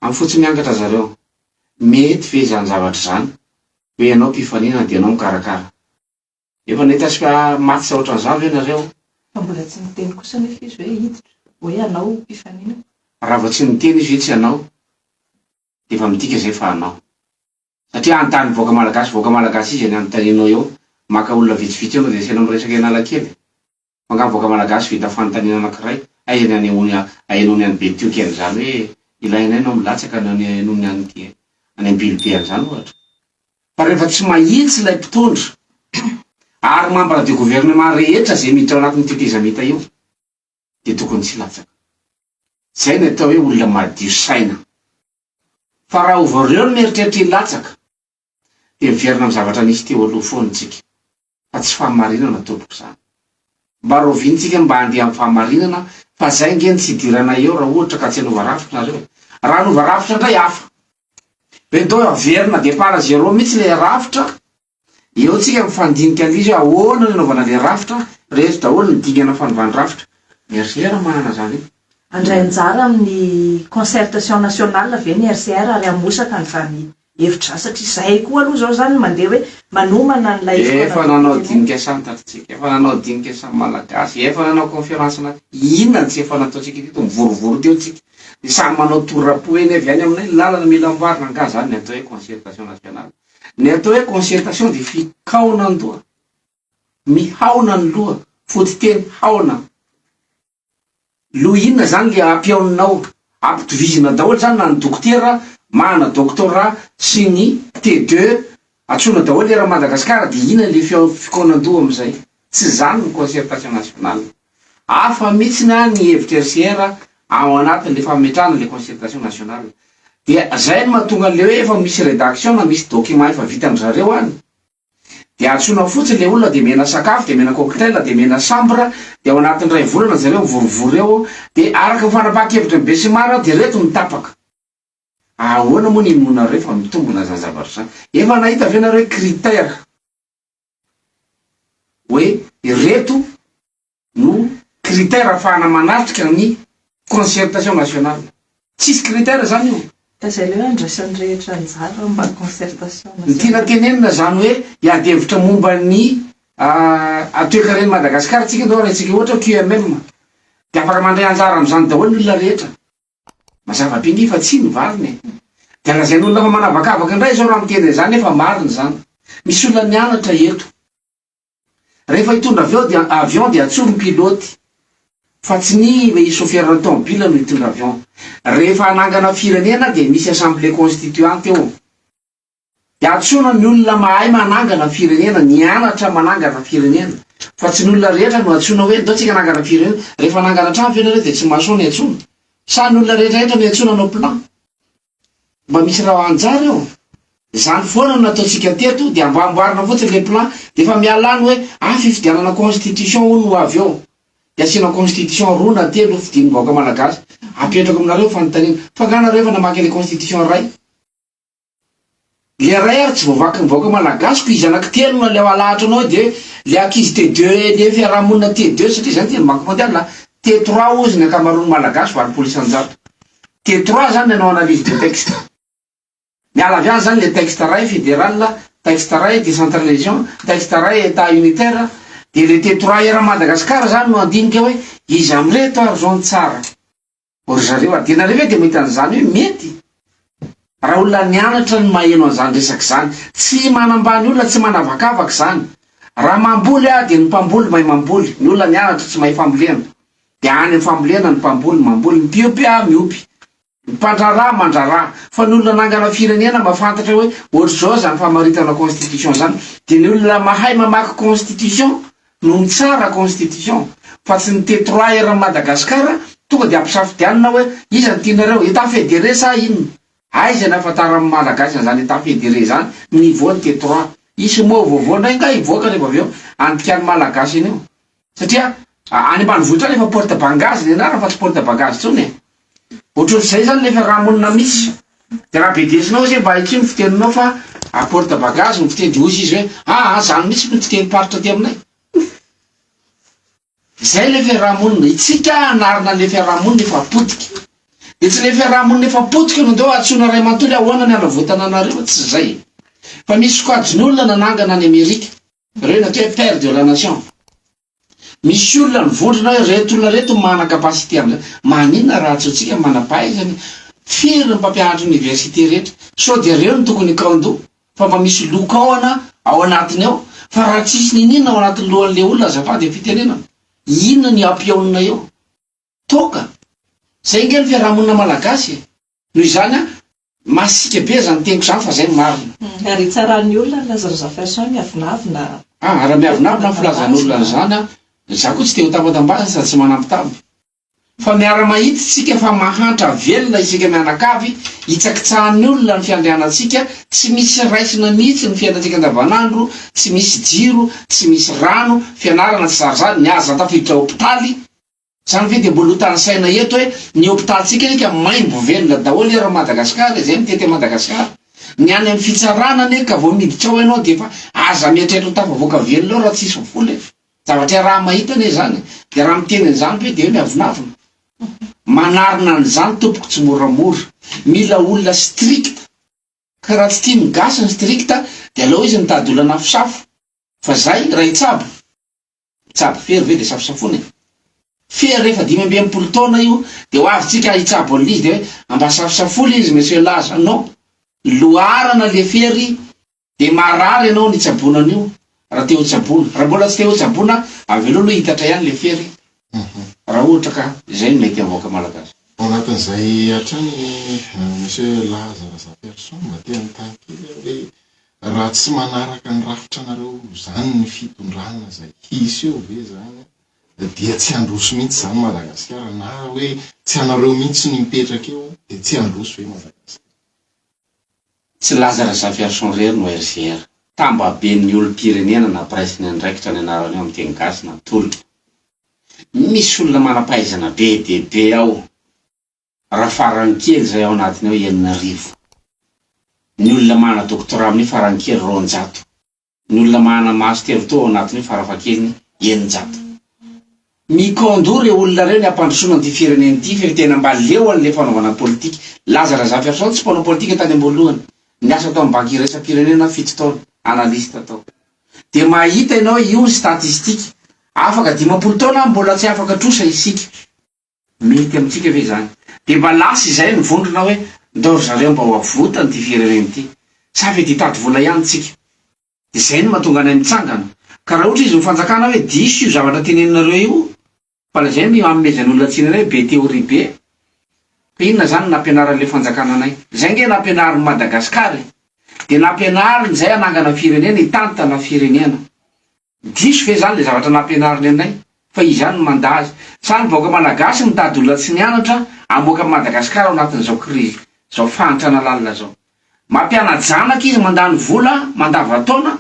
Amin'ny fo tsy miangatra ry zareo, mety ve izany zavatra izany hoe ianao mpifaninana dia ianao mikarakara? Efa nahita sika match ohatran'izany ve nareo? Fa mbola tsy niteny kosa nefa izy hoe hiditra, hoe hanao mpifanina. Raha vao tsy niteny izy hoe tsy hanao dia efa midika izay fa hanao. Satria hanontany vahoaka malagasy vahoaka malagasy izy any anontanianao eo, maka olona vitsivitsy eo no resena miresaka Analakely. Angamba vahoaka malagasy vita fanontaniana anankiray aiza ny anehoany ahenony any Betioky any izany hoe ilaina aina milatsaka na ny ahenony any aty any Ambilobe any izany ohatra. Fa rehefa tsy mahitsy ilay mpitondra ary mambra de gouvernement rehetra izay miditra ao anatin'ny tetezamita io dia tokony tsy hilatsaka. Izay ny atao hoe olona madio saina. Fa raha ovareo no mieritreritra hilatsaka, dia miverina amin'ny zavatra nisy teo aloha foana isika, fa tsy fahamarinana tompoko izany. Mba rahoviantsika mba handeha amin'ny fahamarinana fa izay ange no tsy hidiranay eo raha ohatra ka tsy hanova rafitra nareo? Raha hanova rafitra indray hafa. Ve dô averina départ à zéro mihitsy ilay rafitra? Eo tsika mifandinika indrisy hoe ahoana no hanaovana ilay rafitra, rehetra daholo ny dingana fanovan-drafitra. Merci raha manana izany eo. Handray anjara amin'ny concertation nationale ve ny RCR ary hamosaka an'izany hevitra satria izahay koa aloha izao izany no mandeha hoe manomana an'ilay izy mpanao dinika anao. Efa nanao dinika samy tatsika, efa nanao dinika samy malagasy, efa nanao conférence naty, inona no tsy efa nataontsika teto, mivorovoro teo tsika, dia samy manao tour am-po eny avy any aminay ny lalana mila amboarina, angaha izany ny atao hoe concertation nationale? Ny atao hoe concertation dia fikaonan-doha, mihaona ny loha, fototeny haona. Lo inona zany le ampihaoninao? Ampitovizina daholo zany na ny dokotera mana doctorat sy ny T-deux atsoina daholo eran'i Madagasikara de inona le fikaonan-doha amizay? Tsy zany ny concertation nationale. Hafa mitsiny an ny hevitra RCR ao anatin le fametrahana le concertation nationale. Dia zay no mahatonga le hoe efa misy redaction na misy document efa vitan-dry zareo any. Dia antsoina fotsiny ilay olona dia mena sakafo, dia mena cocktail, dia mena chambre, dia ao anatin'ny iray volana ry zareo mivorivory eo, dia araka ny fanapahan-kevitry ny besimara dia ireto no tapaka. Ahoana moa ny inoanareo fa mitombina izany zavatra izany? Efa nahita ve nareo hoe critère hoe ireto no critère afahana manatrika ny concertation nationale. Tsisy critère zany io. Ka zay le hoe andraisan'ny rehetra anjara mba concertation nationale. Ny tiana tenenina zany hoe hiady hevitra momba ny toekaren'i Madagascar tsika ndao arahintsika ohatra QMM de afaka mandray anjara amzany daholo ny olona rehetra. Mazava be nge fa tsy ny valiny e. De lazain'olona fa manavakavaka ndray zao raha miteny anzany nefa marina zany. Misy olona nianatra eto. Rehefa hitondra avy eo dia avion dia atsory ny pilote fa tsy ny le chauffeur ny tomobile no hitondra avion. Rehefa hanangana firenena dia misy assemblée constituante eo dia antsoina ny olona mahay manangana firenena, nianatra manangana firenena fa tsy ny olona rehetra no antsoina hoe ndao tsika hanangana firenena. Rehefa hanangana trano ve nareo dia tsy mason iantsoana? Sa ny olona rehetra rehetra no iantsoana hanao plan? Mba misy raha anjara eo. Zany foana no nataontsika teto dia mba amboarina fotsiny le plan dia efa miala any hoe ah fifidianana constitution hono ho avy eo dia asiana constitution roa na telo ho fidin'ny vahoaka malagasy apetrako aminareo ny fanontaniana fa nga nareo efa namaky le constitution iray Ilay ray ary tsy voavakin'ny vahoaka malagasy ko izy anaky telo no aleo alahatro anao de le ankizy T deux anie fiarahamonina T deux satria zany dia ny banky mondiale a T trois hozy ny ankamaroan'ny malagasy valopolo isanjato T trois zany ny anao analyse de texte miala avy any zany le texte ray federal texte ray decentralisation texte ray etat unitaire de le T trois eran'i Madagascar zany no andinika hoe iza amreto ary zao ny tsara. O ry zareo a! Dia nareo ve dia mahita an'izany hoe mety? Raha olona nianatra no maheno an'izany resaka izany. Tsy manambany olona, tsy manavakavaka izany. Raha mamboly aho dia ny mpamboly mahay mamboly, ny olona nianatra tsy mahay fambolena. Dia any amin'ny fambolena ny mpamboly mamboly, ny mpiompy a miompy, ny mpandraharaha mandraharaha. Fa ny olona nangana firenena mahafantatra hoe ohatr'izao izany famaritana constitution izany dia ny olona mahay mamaky constitution no mitsara constitution fa tsy ny te trois heures Madagascar tonga de ampisafidianina hoe iza no tianareo etat federé sa inona aiza ny afantaran'ny malagasy an'izany etat federé zany ny niveau ny te trois hisy mot vaovao ndray nga hivoaka rehefa avy eo andikan'ny malagasy an'io satria any ambanivohitra any efa porte bangage ny anarany fa tsy porte bangage tsony e! Ohatran'izay zany le fiarahamonina misy. De raha bedesinao izy hoe mba aikia ny fiteninao fa à porte bagage ny fiteny de hoy izy hoe aa zany mitsy no fitenim-paritra aty aminay. Zay le fiarahamonina. Itsika hanarina le fiarahamonina efa potika. De tsy le fiarahamonina efa potika no ndao antsoina ray mantolo hoe ahoana ny hanavotana anareo, tsy zay e. Fa misy sokajin'olona nanangana any Amerika, reo no atao hoe père de la nation. Misy olona mivondrona hoe reto olona reto no mana capacité amin'izany. Maninona raha tsy antsika no manam-pahaizana e? Firy ny mpampianatra oniversite rehetra? Sao dia ireo no tokony hikaon-doha? Fa mba misy lokaona ao anatiny ao? Fa raha tsisy niniana ao anatin'ny lohan'ilay olona azafady ny fitenenana, inona ny hampihaonina eo? Toaka! Zay nge ny fiarahamonina malagasy e! Noho izany an, masiaka be zany teniko zany fa zay no marina. Ary hitsaran'ny olona ny lazan'i Jafferson miavonavona an! Ah, raha miavonavona ny filazan'olona an'izany an, za koa tsy te ho tambatambazana sady tsy manambitamby. Fa miara-mahita isika fa mahantra velona isika mianakavy, hitsakitsahan'ny olona ny fiandrianantsika, tsy misy raisina mihitsy ny fiainantsika andavanandro, tsy misy jiro, tsy misy rano, fianarana tsy zary zany, ny aza tafiditra hopitaly, Zany ve dia mbola ho tanisaina eto hoe ny hopitalintsika eka maimbo velona daholo eran'i Madagasikara izay mitety an'i Madagasikara? Ny any amin'ny fitsarana anie ka vao miditra ao ianao dia efa aza mieritreritra ho tafavoaka velona ao raha tsy hisy vola e! Zavatra iaraha-mahita anie izany e! Dia raha miteny an'izany ve dia hoe miavonavona? Manarina an'izany tompoko tsimoramora! Mila olona strict! Ka raha tsy tian'ny gasy ny strict dia aleo izy mitady olona an'afosafo! Fa izay, Raitsabo! Mpitsabo fery ve dia safosafoina e? Fery rehefa dimy amby enimpolo taona io dia ho avy tsika hitsabo an'izy dia hoe amba safosafona izy monsieur laza non loharana le fery dia marary ianao ny tsaboana an'io raha te ho tsaboana raha mbola tsy te ho tsaboana avelao aloha hitatra ihany le fery raha ohatra ka izay no mety amin'ny vahoaka malagasy. Ao anatin'izay hatrany Monsieur Laza Razafiarison mba te hanontany kely aho hoe Raha tsy manaraka ny rafitranareo zany ny fitondrana zay hisy eo ve zany dia tsy handroso mihitsy zany Madagasikara na hoe tsy anareo mihitsy no hipetraka eo dia tsy handroso ve Madagasikara. Tsy Laza Razafiarison irery no RJR. Tambaben'ny olom-pirenena na presse ny andraikitra ny anaran'io amin'ny teny gasy na tolona. Misy olona manam-pahaizana be dia be ao. Raha farany kely izay ao anatiny ao enina arivo. Ny olona manana doctorat amin'ny farany kely roanjato. Ny olona manana master toa ao anatiny ao farafahakeliny eninjato. Mikondo ireo olona ireo ny hampandrosoana an'ity firenena ity fa tena mba leo an'ilay fanaovana politika. Laza Razafiarison tsy mpanao politika tany am-boalohany. Niasa tao amin'ny banky iraisam-pirenena fito taona, analyste tao. Dia mahita ianao io ny statistique. Afaka dimampolo taona ary mbola tsy afaka trosa isika. Mety amintsika ve izany? Dia mba lasa izay ny vondrona hoe ndao ry zareo mba ho avotany ity firenena ity. Sa ve dia hitady vola ihany isika? Dia izay no mahatonga anay mitsangana. Ka raha ohatra izy ny fanjakana hoe diso io zavatra teneninareo io fa lazainy ny hanomezany olona tsiny anay be théorie be. Ka inona izany no nampianaran'ilay fanjakana anay? Izay ange nampianarin'i Madagascar e! Dia nampianariny izay hanangana firenena, hitantana firenena. Diso ve zany le zavatra nampianariny anay fa izy ihany no manda azy? Sa ny vahoaka malagasy mitady olona tsy nianatra hamoaka an'i Madagascar ao anatin'izao crise zao fahantrana lalina zao? Mampianajanaka izy mandany vola mandavantaona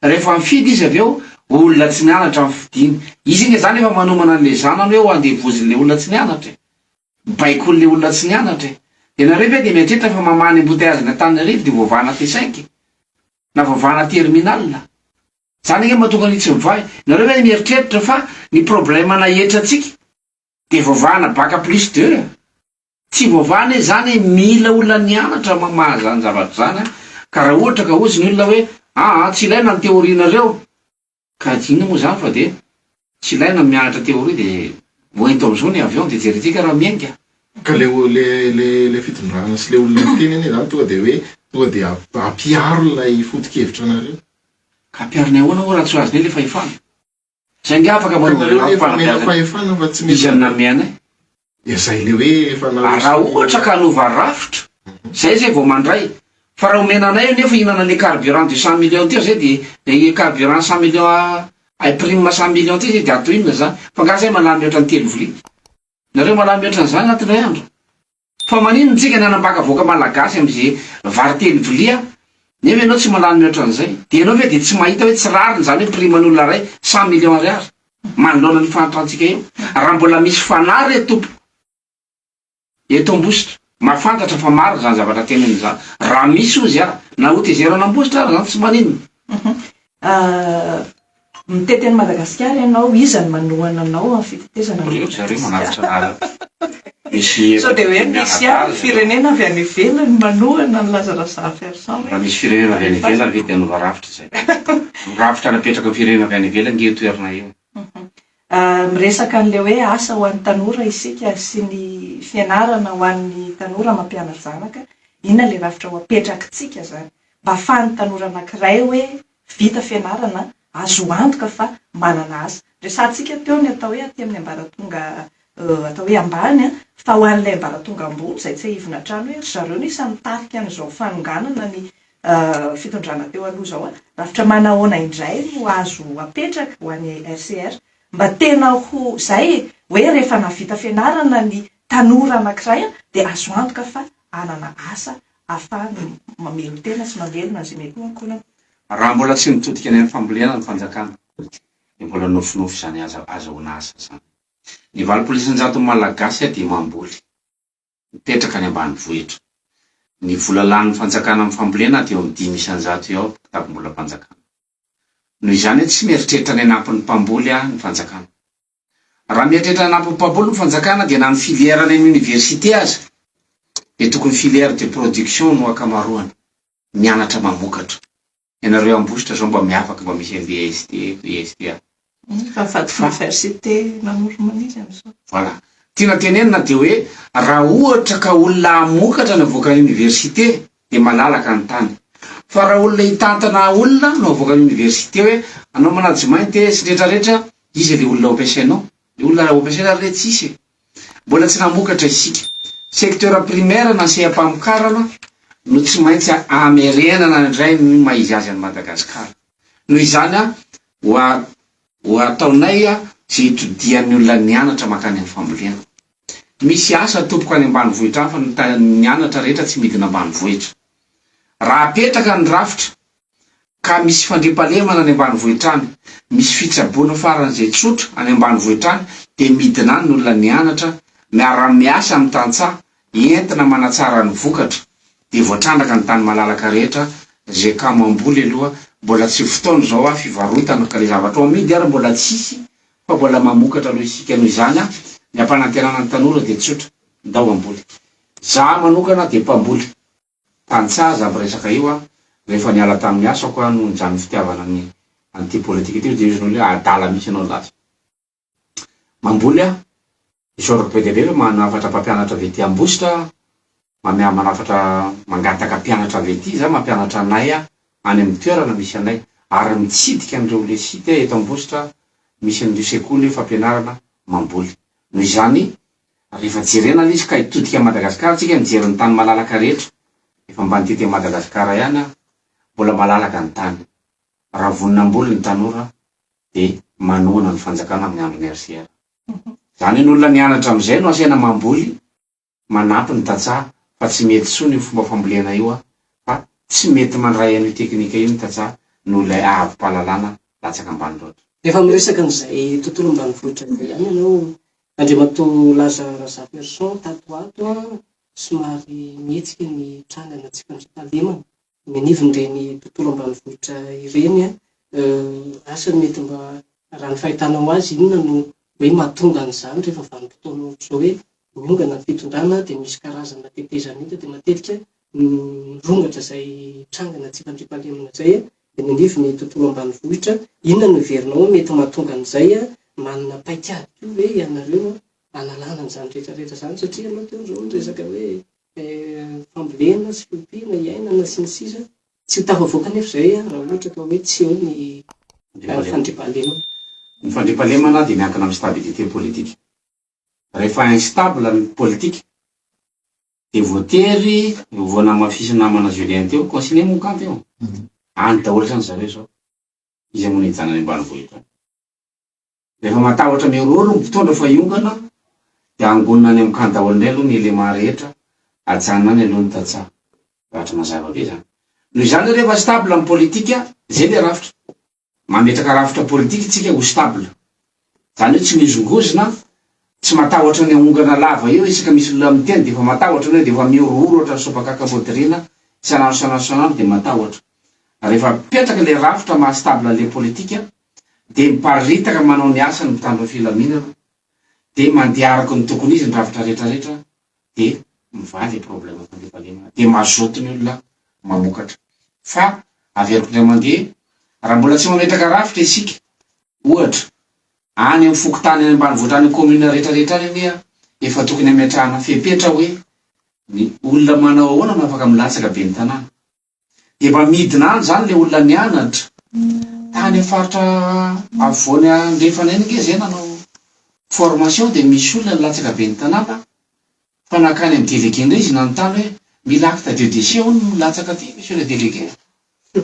rehefa mifidy izy avy eo olona tsy nianatra no fidiany. Izy nge zany efa manomana an'le zanany hoe ho andevozon'le olona tsy nianatra e! Baikoin'le olona tsy nianatra e! De nareo ve de mieritreritra fa mamaha ny embouteillages-ny Antananarivo de voavahana T5 e! Na voavahana terminal? Zany ange mahatonga ny tsy mivahy. Nareo ve mieritreritra fa ny problème na hetra tsika de voavahana bac plus deux a? Tsy voavaha anie zany mila olona nianatra mamaha zany zavatra zany a, ka ra ohatra ka hozy ny olona hoe aa tsy ilaina ny théorie nareo ka inona moa zany fa de Tsy ilaina ny mianatra théorie dia ho ento amizao ny avion dia jereo tsika raha mienga. Ka le le le le fitondrana sy le olona miteny anie zany tonga de hoe tonga de ampiaro ilay foto-kevitra nareo. Ka ampiarony ahoana moa raha tsy azony le fahefana? Saingy afaka manova ny lafim-panabeazana izy aminy nameanay. Dia zay le hoe efa narosony. Ah, raha ohatra ka hanova rafitra, zay zay vao mandray. Fa raha omena anay anefa hihinana an'le carburant de cent millions teo zay dia le carburant cent millions a ay prime cent millions ty zay dia atao inona zany? Fa nga zay malany mihoatra ny telo vilia? Nareo malany mihoatra an'zany anaty iray andro? Fa maninona tsika ny hanambaka vahoaka malagasy am'ze vary telo vilia nefa ianao tsy malany mihoatra an'zay? Dia ianao ve dia tsy mahita hoe tsy rariny zany hoe prime an'olona ray cent millions ariary? manoloana an'io fahantrantsika io. Raha mbola misy fanahy re tompoko eto Ambositra, mahafantatra fa marina izany zavatra teneniny izany. Raha misy hozy aho, na hotezero an'Ambositra ary izany tsy maninona. Mitety an'i Madagasikara ianao, iza no manohana anao amin'ny fitetezana an'i Madagasikara? Sao dia hoe misy ihany ny firenena avy any ivelany manohana ny lazalazan'i Ferson ve? Raha misy firenena avy any ivelany ve dia hanova rafitra izay? Ny rafitra napetraky ny firenena avy any ivelany ange io toerana io. Miresaka an'ilay hoe asa ho an'ny tanora isika sy ny fianarana ho an'ny tanora mampiana-janaka, inona ilay rafitra ho apetrakintsika izany? Mba ahafahan'ny tanora anankiray hoe vita fianarana, azo antoka fa manana asa. Resahantsika teo ny atao hoe aty amin'ny ambaratonga atao hoe ambany, fa ho an'ilay ambaratonga ambony izay tsiahivina hatrany hoe ry zareo no isan'ny tarika an'izao fanonganana ny fitondrana teo aloha izao, rafitra manahoana indray no azo apetraka ho an'ny RCR mba tena ho izay e? hoe rehefa nahavita fianarana ny tanora anankiray dia azo antoka fa hanana asa ahafahana mamelon-tena sy mamelona an'izay mety ho ankolaka. Raha mbola tsy mitodika any amin'ny fambolena ny fanjakana dia mbola nofinofy izany ahazahoana asa izany. Ny valopolo isanjaton'ny Malagasy dia mamboly, mipetraka any ambanivohitra. Ny vola lanin'ny fanjakana amin'ny fambolena dia eo amin'ny dimy isanjato eo ny kitapom-bolam-panjakana. Noho izany, tsy mieritreritra ny hanampy ny mpamboly ny fanjakana. Raha mieritreritra hanampy mpamboly ny fanjakana dia na ny filière any amin'ny université aza dia tokony filière de production no ankamaroany, mianatra mamokatra. Ianareo Ambositra zao mba miavaka mba misy MBST, BSTA. Fa vady f'université namory maniry amzao. Voilà. Tiana tenenina dia hoe raha ohatra ka olona hamokatra ny avoakan'ny université dia malalaka ny tany. Fa raha olona hitantana olona no avoakan'ny oniversite hoe anao management e sy ny retraretra, iza ilay olona hampiasainao? Ilay olona hampiasaina ary re tsisy e! Mbola tsy namokatra isika. Secteur primaire na seha-pamokarana no tsy maintsy hamerenana indray ny maha izy azy an'i Madagasikara. Noho izany ho ataonay izay itodihan'ny olona nianatra mankany amin'ny fambolena. Misy asa tompoko any ambanivohitra hafa no ta ny anatra rehetra tsy midina ambanivohitra. Raha apetraka ny rafitra ka misy fandriampahalemana any ambanivohitra any, misy fitsaboana faran'izay tsotra any ambanivohitra any dia midina any ny olona mianatra, miara-miasa amin'ny tantsaha, entina manatsara ny vokatra dia voatrandraka ny tany malalaka rehetra izay kamo hamboly aloha, mbola tsy fotoana izao ah fivarotana ka le zavatra ho amidy ary mbola tsisy fa mbola mamokatra noho isika noho izany an! ny ampanantenana ny tanora dia tsotra, ndao hamboly! za manokana dia mpamboly tantsaha za miresaka io an! rehefa niala tamin'ny asako aho noho ny zany fitiavana ny an'ity politika ity, hoy Diozy Noly hoe adala mihitsy ianao laza mamboly aho Isaorako be dia be ireo manafatra mpampianatra avy ety Ambositra mameaha manafatra mangataka mpianatra avy ety izaho mampianatra anay aho any amin'ny toerana misy anay ary mitsidika an'ireo le site eto Ambositra misy an'ireo sekoly fampianarana mamboly noho izany rehefa jerena le izy ka hitodika an'i Madagasikara tsika mijery ny tany malalaka rehetra efa mba nitety an'i Madagasikara ihany aho mbola malalaka ny tany raha vonona hamboly ny tanora dia manohana ny fanjakana amin'ny andron'ny RCR. Zany ny olona nianatra amizay no asaina mamboly manampy ny tantsaha fa tsy mety tsony io fomba fambolena io an! fa tsy mety mandray an'io teknika io ny tantsaha noho ilay ahavimpahalalana latsaka ambany loatra. Efa miresaka an'izay tontolo ambanivohitra izay ihany ianao Andriamatoa Laza Razafiarison tato ho ato an! somary mihetsika ny trangana tsy fandriampahalemana. Ny anivon'ireny tontolo ambanivohitra ireny, asa ny mety mba, raha ny fahitanao azy, inona no hoe mahatonga an'izany rehefa vanim-potoana ohatr'izao hoe miongana ny fitondrana dia misy karazana tetezana hita dia matetika mirongatra izay trangana tsy fandriampahalemana izay eny anivon'ny tontolo ambanivohitra. Inona no heverinao hoe mety mahatonga an'izay? Manana paikady koa ve ianareo hanalana an'izany rehetra rehetra izany satria ianao teo izao niresaka hoe fambolena sy fiompiana, iainana, sy ny sisa Tsy ho tafavoaka anefa izay raha ohatra ka hoe tsy eo ny fandriampahalemana. Ny fandriampahalemana dia miankina amin'ny stabilité politique. Rehefa instable ny politique dia voatery vao namafisin'ny namana Julien teo, consigné moa ny camp eo. Any daholo izany zareo izao, iza moa no hijanona any ambanivohitra any. Rehefa matahotra mihorohoro ny mpitondra fa hiongana dia angonina any amin'ny camp daholo indray aloha ny élément rehetra, ajanona any aloha ny tantsaha. Rafitra mazava be izany. Noho izany hoe rehefa stable ny politika, izay ilay rafitra. Mametraka rafitra politika isika ho stable. Izany hoe tsy mihozongozona, tsy matahotra ny haongana lava eo isaka misy olona miteny dia efa matahotra ianao dia efa mihorohoro ohatran'ny sopakaka modiriana isan'andro isan'andro isan'andro dia matahotra. Rehefa apetraka ilay rafitra maha stable an'ilay politika, dia miparitaka manao ny asany mitandro filaminana dia mandeha araka ny tokony izy ny rafitra rehetra rehetra dia mivaha le problème fandriampahalemana dia mazoto ny olona mamokatra fa averiko indray mandeha raha mbola tsy mametraka rafitra isika ohatra any am fokontany any ambanivohitra any am commune rehetra rehetra any anie efa tokony ametrahana fepetra hoe ny olona manao ahoana no afaka milatsaka ben'ny tanàna Efa midina any izany ilay olona nianatra tany amin'ny faritra afovoany andrefana eny, ange zay nanao formation dia misy olona nilatsaka ben'ny tanàna fa nankany amin'ny délégué indray izy nanontany hoe mila acte de décès hono milatsaka aty monsieur le délégué a!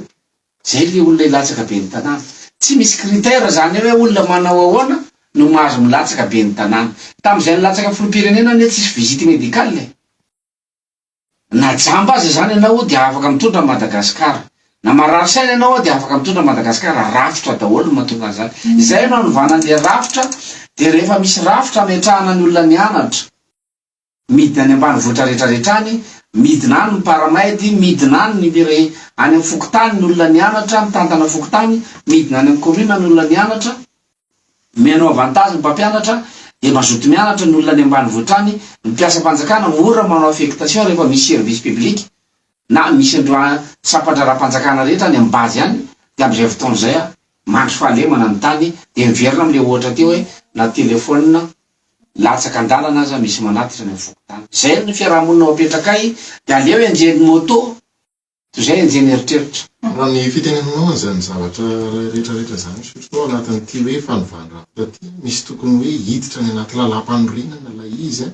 Izay ilay olona hilatsaka ben'ny tanàna. Tsy misy critère izany hoe olona manao ahoana no mahazo milatsaka ben'ny tanàna. Tamin'izay nilatsaka filoham-pirenena anie tsisy visite médicale e! Na jamba aza izany ianao ao dia afaka mitondra an'i Madagasikara. Na marary saina ianao ao dia afaka mitondra an'i Madagasikara. Rafitra daholo no mahatonga an'izany. Izay no anovana an'ilay rafitra dia rehefa misy rafitra ametrahana ny olona nianatra, midina any ambanivohitra rehetra rehetra any, midina any ny mparamaidy, midina any ny mire, any amin'ny fokontany ny olona nianatra, mitantana fokontany, midina any amin'ny commune ny olona nianatra, Mihaino avantage ny mpampianatra dia mazoto mianatra ny olona any ambanivohitra any, ny mpiasam-panjakana mora manao affectation rehefa misy service public na misy an'ireo sampan-draharaham-panjakana rehetra any amin'ny base any dia amin'izay fotoana izay aho mandry fahalemana ny tany dia miverina amin'ilay ohatra teo hoe na téléphone latsaka an-dalana aza misy manatitra any amin'ny fokontany. Izay ny fiaraha-monina ao am-petrakay dia aleo hianjera ny moto Toy izay ange ny eritreritra. Raha ny fitenenanao an'izany zavatra iray rehetra rehetra izany misotra tao anatin'ity hoe fanovana rafitra ity, misy tokony hoe hiditra any anaty lalàmpanorenana ilay izy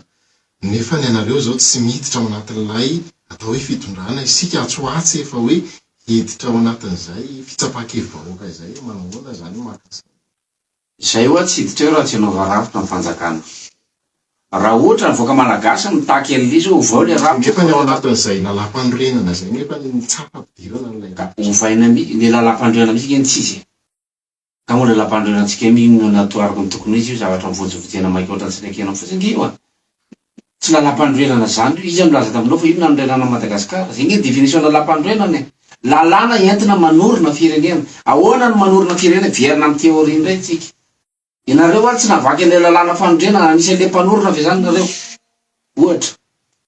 nefa ny anareo izao tsy miditra ao anatin'ilay atao hoe fitondrana, isika atsy ho atsy efa hoe hiditra ao anatin'izay fitsapan-kevi-bahoaka izay, manahoana izany maka izany? Izay oa tsy hiditra eo raha tsy anao varafitra ny fanjakana. Raha ohatra ny vahoaka malagasy mitaky an'le izy oa ovao le rafitra. Nefa ny ao anatin'izay lalampanorenana izay nefa ny tsapa ampidirana an'ilay rafitra. Ka ovaina mi le lalampanorenana mihitsy nge ny tsy izy e. Ka moa le lalampanorenantsika io inona no atao araka ny tokony ho izy io zavatra mivonjovonjena maika ohatran'ny tsy nekena fotsiny nge io a. Tsy lalam-panorenana zany io, iza nilaza taminao fa io nanorenana an'i Madagasikara? Zay nge definition lalam-panorenana e! Lalàna entina manorina firenena. Ahoana no manorina firenena? Miverina amin'ny theorie indray tsika. Ianareo ary tsy nahavaky an'ilay lalàna fanorenana, anisan'ilay mpanorina ve zany nareo? Ohatra.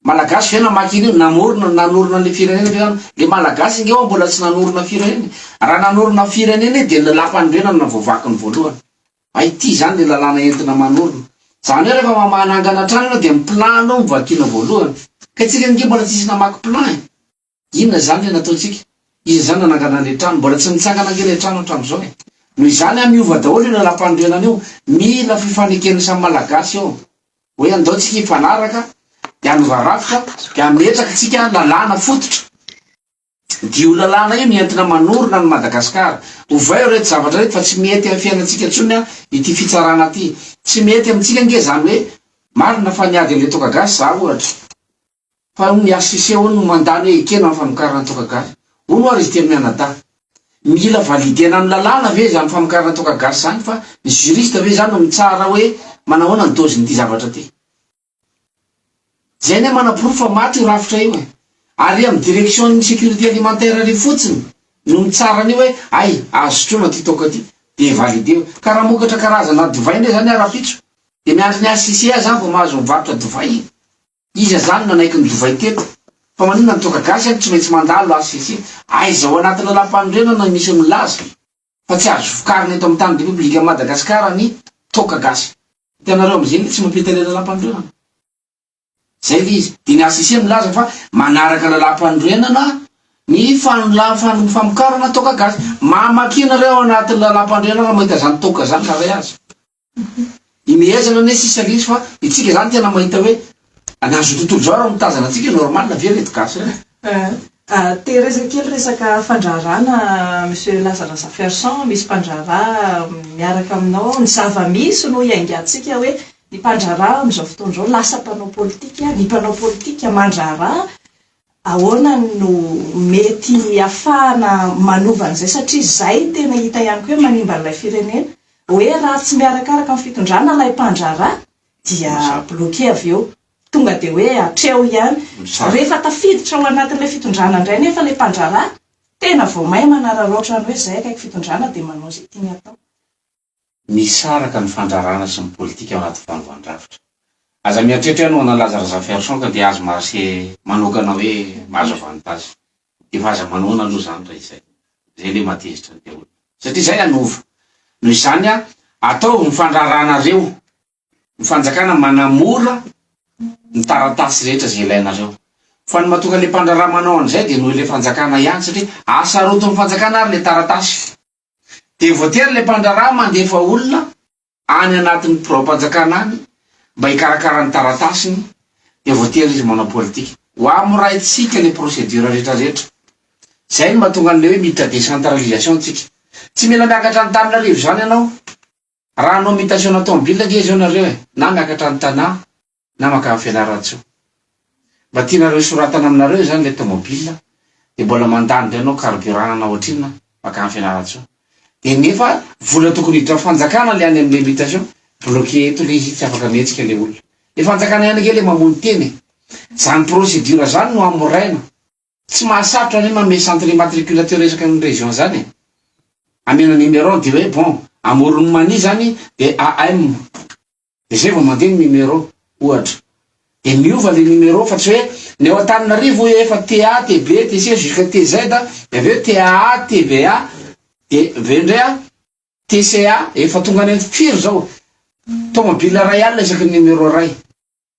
Malagasy ve namaky an'io? Namorona, nanorina an'ilay firenena ve zany? Le Malagasy nge ho'a mbola tsy nanorina firenena e! Raha nanorina firenena izy dia ny lalam-panorenana no voavaky ny voalohany. A Ity izany ilay lalàna entina manorina. Izany hoe rehefa mamaha na angana trano ianao dia ny plan aloha no vakiana voalohany. Ka isika ange mbola tsisy namaky plan e! Inona izany ilay nataontsika? Iza izany no nanangana an'ilay trano? Mbola tsy nitsangana ange ilay trano hatramin'izao e! Noho izany an, miova daholo io lalàmpanorenana io. Mila fifaneken'ny samy Malagasy eo. Hoe andao tsika hifanaraka, dia hanova rafitra, dia hametraka tsika lalàna fototra. Diho lalàna io no entina manorina an'i Madagasikara. Ovay reto zavatra reto fa tsy mety amin'ny fiainantsika intsony ity fitsarana ity. Tsy mety amintsika ange izany hoe marina fa niady an'ilay toaka gasy za ohatra. Fa hono ny HCC hono no mandany hoe ekena ny famokarana toaka gasy. Hono ary izy telo mianadahy. Mila validena amin'ny lalàna ve izany famokarana toaka gasy izany fa ny juriste ve izany no mitsara hoe manahoana ny dozin'ity zavatra ity. Zay anie manaporofo fa maty io rafitra io e! Ary amin'ny direction ny sécurité alimentaire ary fotsiny no mitsara an'io hoe hay azo sotroina ty toaka ty dia validé io. Ka raha mamokatra karazana divay indray zany aho rahampitso dia miandry ny HCCA za vao mahazo mivarotra divay e! Iza zany nanaiky ny divay teto? Fa maninona ny toaka gasy aky tsy maintsy mandalo HCC? Aiza ao anaty lalam-panorenana no misy milaza e! fa tsy azo vokarina eto amin'ny tany Repoblikan'i Madagasikara ny toaka gasy. Hitanareo amin'izay ilay tsy mampita ilay lalam-panorenana. Izay ilay izy. Dia ny HCC milaza fa manaraka lalam-panorenana ny fanolà ny famokarana toaka gasy. Mamakia nareo ao anatin'ny lalam-panorenana raha mahita izany toaka izany raha ray azy. Imehezana anie sisa lesy fa itsika zany tena mahita hoe an'azy io tontolo zao ary mitazana antsika normal ve reto gasy reto? Tehirizina kely resaka fandraharahana Monsieur Lazarasa Ferson, misy mpandraharaha miaraka aminao ao, ny zava-misy no iaingantsika hoe ny mpandraharaha amin'izao fotoana izao lasa mpanao politika, ny mpanao politika mandraharaha, Ahoana no mety hahafahana manova an'izay satria izay no tena hita ihany koa hoe manimba an'ilay firenena. Hoe raha tsy miarakaraka amin'ny fitondrana ilay mpandraharaha dia bloquer avy eo. Tonga dia hoe hatreo ihany. Rehefa tafiditra ao anatin'ilay fitondrana indray anefa ilay mpandraharaha, tena vao may manararaotra ny hoe izay akaiky fitondrana dia manao izay tiany atao. misaraka ny fandrarana sy ny politika ao anaty vaovan-drafitra. Aza mieritreritra ianao hanalaza Razafiarison ka dia azo marche manokana hoe mahazo avantage. Efa aza manoana aloha izany raha izay. Izay ilay mahatezitra ny daholo. Satria izay hanova. Noho izany ataovy ny fandraranareo. Ny fanjakana manamora ny taratasy rehetra izay ilainareo. Fa ny mahatonga ilay mpandraraha manao an'izay dia noho ilay fanjakana ihany satria asarotin'ny fanjakana ary ilay taratasy. Dia voatery ilay mpandraharaha mandefa olona any anatin'ny biraom-panjakana any mba hikarakara ny taratasiny, dia voatery izy manao politika. Ho amoraintsika ilay procédure rehetra rehetra. Izay no mahatonga an'ilay hoe mitra décentralisation tsika. Tsy mila miakatra any Tananarive izany ianao. Raha hanao mutation na tomobile ange izao nareo e, na miakatra any Tana na makany Fianarantsoa. Mba tianareo hisoratana aminareo izany ilay tomobile dia mbola mandany indray anao carburant na ohatrinona makany Fianarantsoa. Dia nefa vola tokony hiditra fanjakana ilay any amin'ilay mutation, bloquer eto ilay izy tsy afaka mihetsika ilay olona. Ilay fanjakana ihany ange ilay mamono tena e. Izany procédure izany no hamoraina. Tsy mahasarotra anie manome centre immatriculateur resaka ny région zany e! Amena numeron de hoe bon amoron'i Mania zany de AM de zay vao mandeha ny numeron ohatra de miova le numeron fa tsy hoe ny ao Antananarivo hoy efa TA, TB, TC jusqu'à TZ de avy eo TAA, TVA de avy eo ndray TCA efa tonga any firy zao tomobile ray alina isaky ny numeron ray.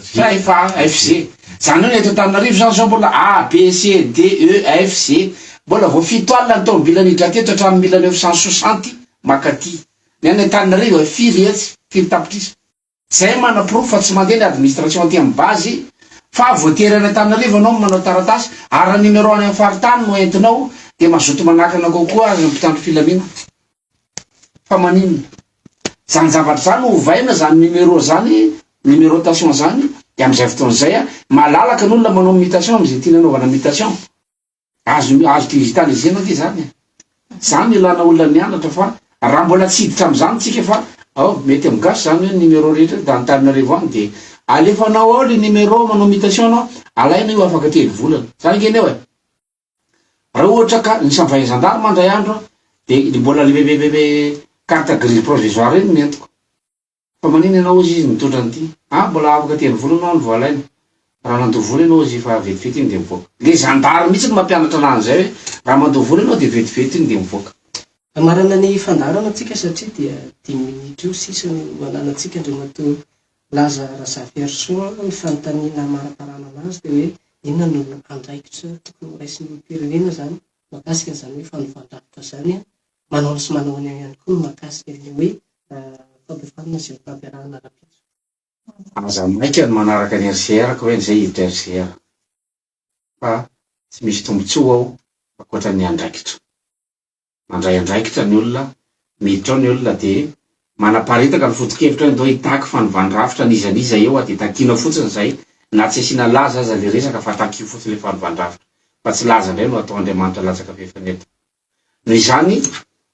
Five A, F, G. Izany hoe ny eto Antananarivo izany izao mbola A, B, C, D, E, F, G. Mbola vao fito alina ny taomobilan'ny hidra teto hatramin'ny mille neuf cent soixante mankaty. Ny any Antananarivo efa firy etsy, firy tapitrisa. Izay manaporofo fa tsy mandeha ny administration aty amin'ny base fa voatery any Antananarivo ianao no manao taratasy ary raha numero any amin'ny faritany no entinao dia mazoto manakana kokoa ny mpitandro filaminana. Fa maninona? Zany zavatra zany ovaina zany numéro zany, numérotation zany de amizay fotoana zay a, malalaka ny olona manao mutation amizay tiany anaovana mutation. Azo azo digitaliser-na ve zany e? Zany no ilana olona nianatra fa raha mbola tsy hiditra amizany tsika fa ao mety am gasy zany hoe numéro rehetra eto Antananarivo any de alefanao ao le numéro manao mutation anao alaina io afaka telo volana. Zany ange ny ao e. Raha ohatra ka ny savain gendarme ndray andro de ny mbola le carte grise provisoire iny no entiko fa manina ianao ozy izy nitondra an'ity ah mbola afaka aty any volana aho no vao alaina raha nandoa vola ianao ozy fa vetivety iny de mivoaka le zandary mihitsy no mampianatra anah an'izay hoe raha mandoa vola ianao de vetivety iny de mivoaka. Hamarana ny fandaharana antsika satria dia dimy minitra eo sisa no ananantsika Andriamatoa Nilaza Razafiarisoa ny fanontaniana hamariparana anazy teo hoe inona no andraikitra tokony horaisin'ny olom-pirenena izany mahakasika an'izany hoe fanovan-drafitra izany an, manaona sy manaona ihany koa ny mahakasika ilay hoe fampihofanana sy ny fampiarahana rahampitso. Aza maika ny manaraka ny RCR ka hoe an'izay hiditra RCR fa tsy misy tombontsoa ao ankoatran'ny andraikitra. Mandray andraikitra ny olona, miditra ao ny olona dia manaparitaka ny foto-kevitra hoe ndao hitaky fanovana rafitra an'iza an'iza eo dia takiana fotsiny izay na tsy asiana laza aza ilay resaka fa takio fotsiny ilay fanovandrafitra fa tsy laza indray no atao Andriamanitra latsaka fefany eto noho izany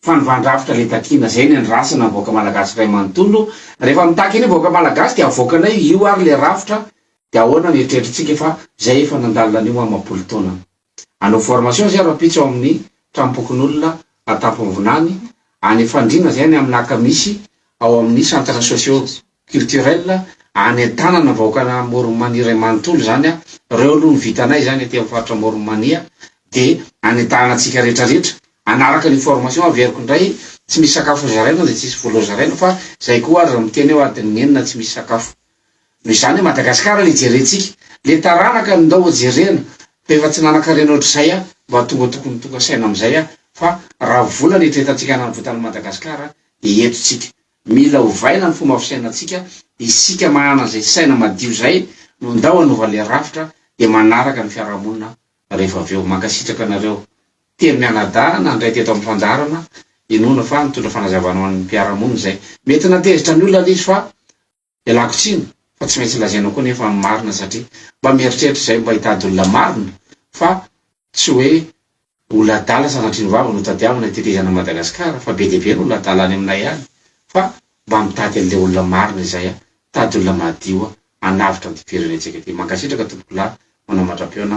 fanovandrafitra ilay takiana izay ny andrasana ny vahoaka malagasy iray manontolo rehefa mitaky ny vahoaka malagasy dia avoakanay io ary ilay rafitra dia ahoana ny eritreritrintsika fa izay efa nandalo anio amam-polo taona Hanao formation izay rahampitso ao amin'ny tranompokonolona Antamponvinany, any Ifandriana izay any amin'ny Naka misy ao amin'ny centre socio culturel any an-tanana ny vahoakana Morony Mania iray manontolo izany a, ireo aloha no vitanay izany aty amin'ny faritra Morony Mania dia any an-tanana antsika rehetra rehetra hanaraka an'io formation averiko indray, tsy misy sakafo hozaraina dia tsy hisy vola hozaraina fa izay koa ary miteny aho adin'ny enina tsy misy sakafo Noho izany i Madagasikara le jerentsika, le taranaka no ndao jerena, efa tsy nanakarena ohatr'izay aho, mba tonga tokony tonga saina amin'izay aho fa raha vola no itretantsika hanavotan'i Madagasikara dia eto tsika. Mila ovaina ny fomba fisainantsika, isika mahana izay saina madio izay no ndao hanova le rafitra dia manaraka ny fiarahamonina rehefa avy eo. Mankasitraka anareo. Telo mianadahy nandray teto amin'ny fandaharana, inoana fa nitondra fanazavana ho an'ny mpiara-monina izay. Mety natezitra ny olona le izy fa Ialako tsiny fa tsy maintsy lazaina koa nefa ny marina satria mba mieritreritra izay mba hitady olona marina fa tsy hoe olona adala sanatria ny vava no tadiavina hitetezana an'i Madagascar fa be dia be ny olona adala any aminay any fa mba mitady an'ilay olona marina izay a! tady olona madio a! hanavotra an'ity firenentsika ity! mankasitraka tompokolahy manamatra-peona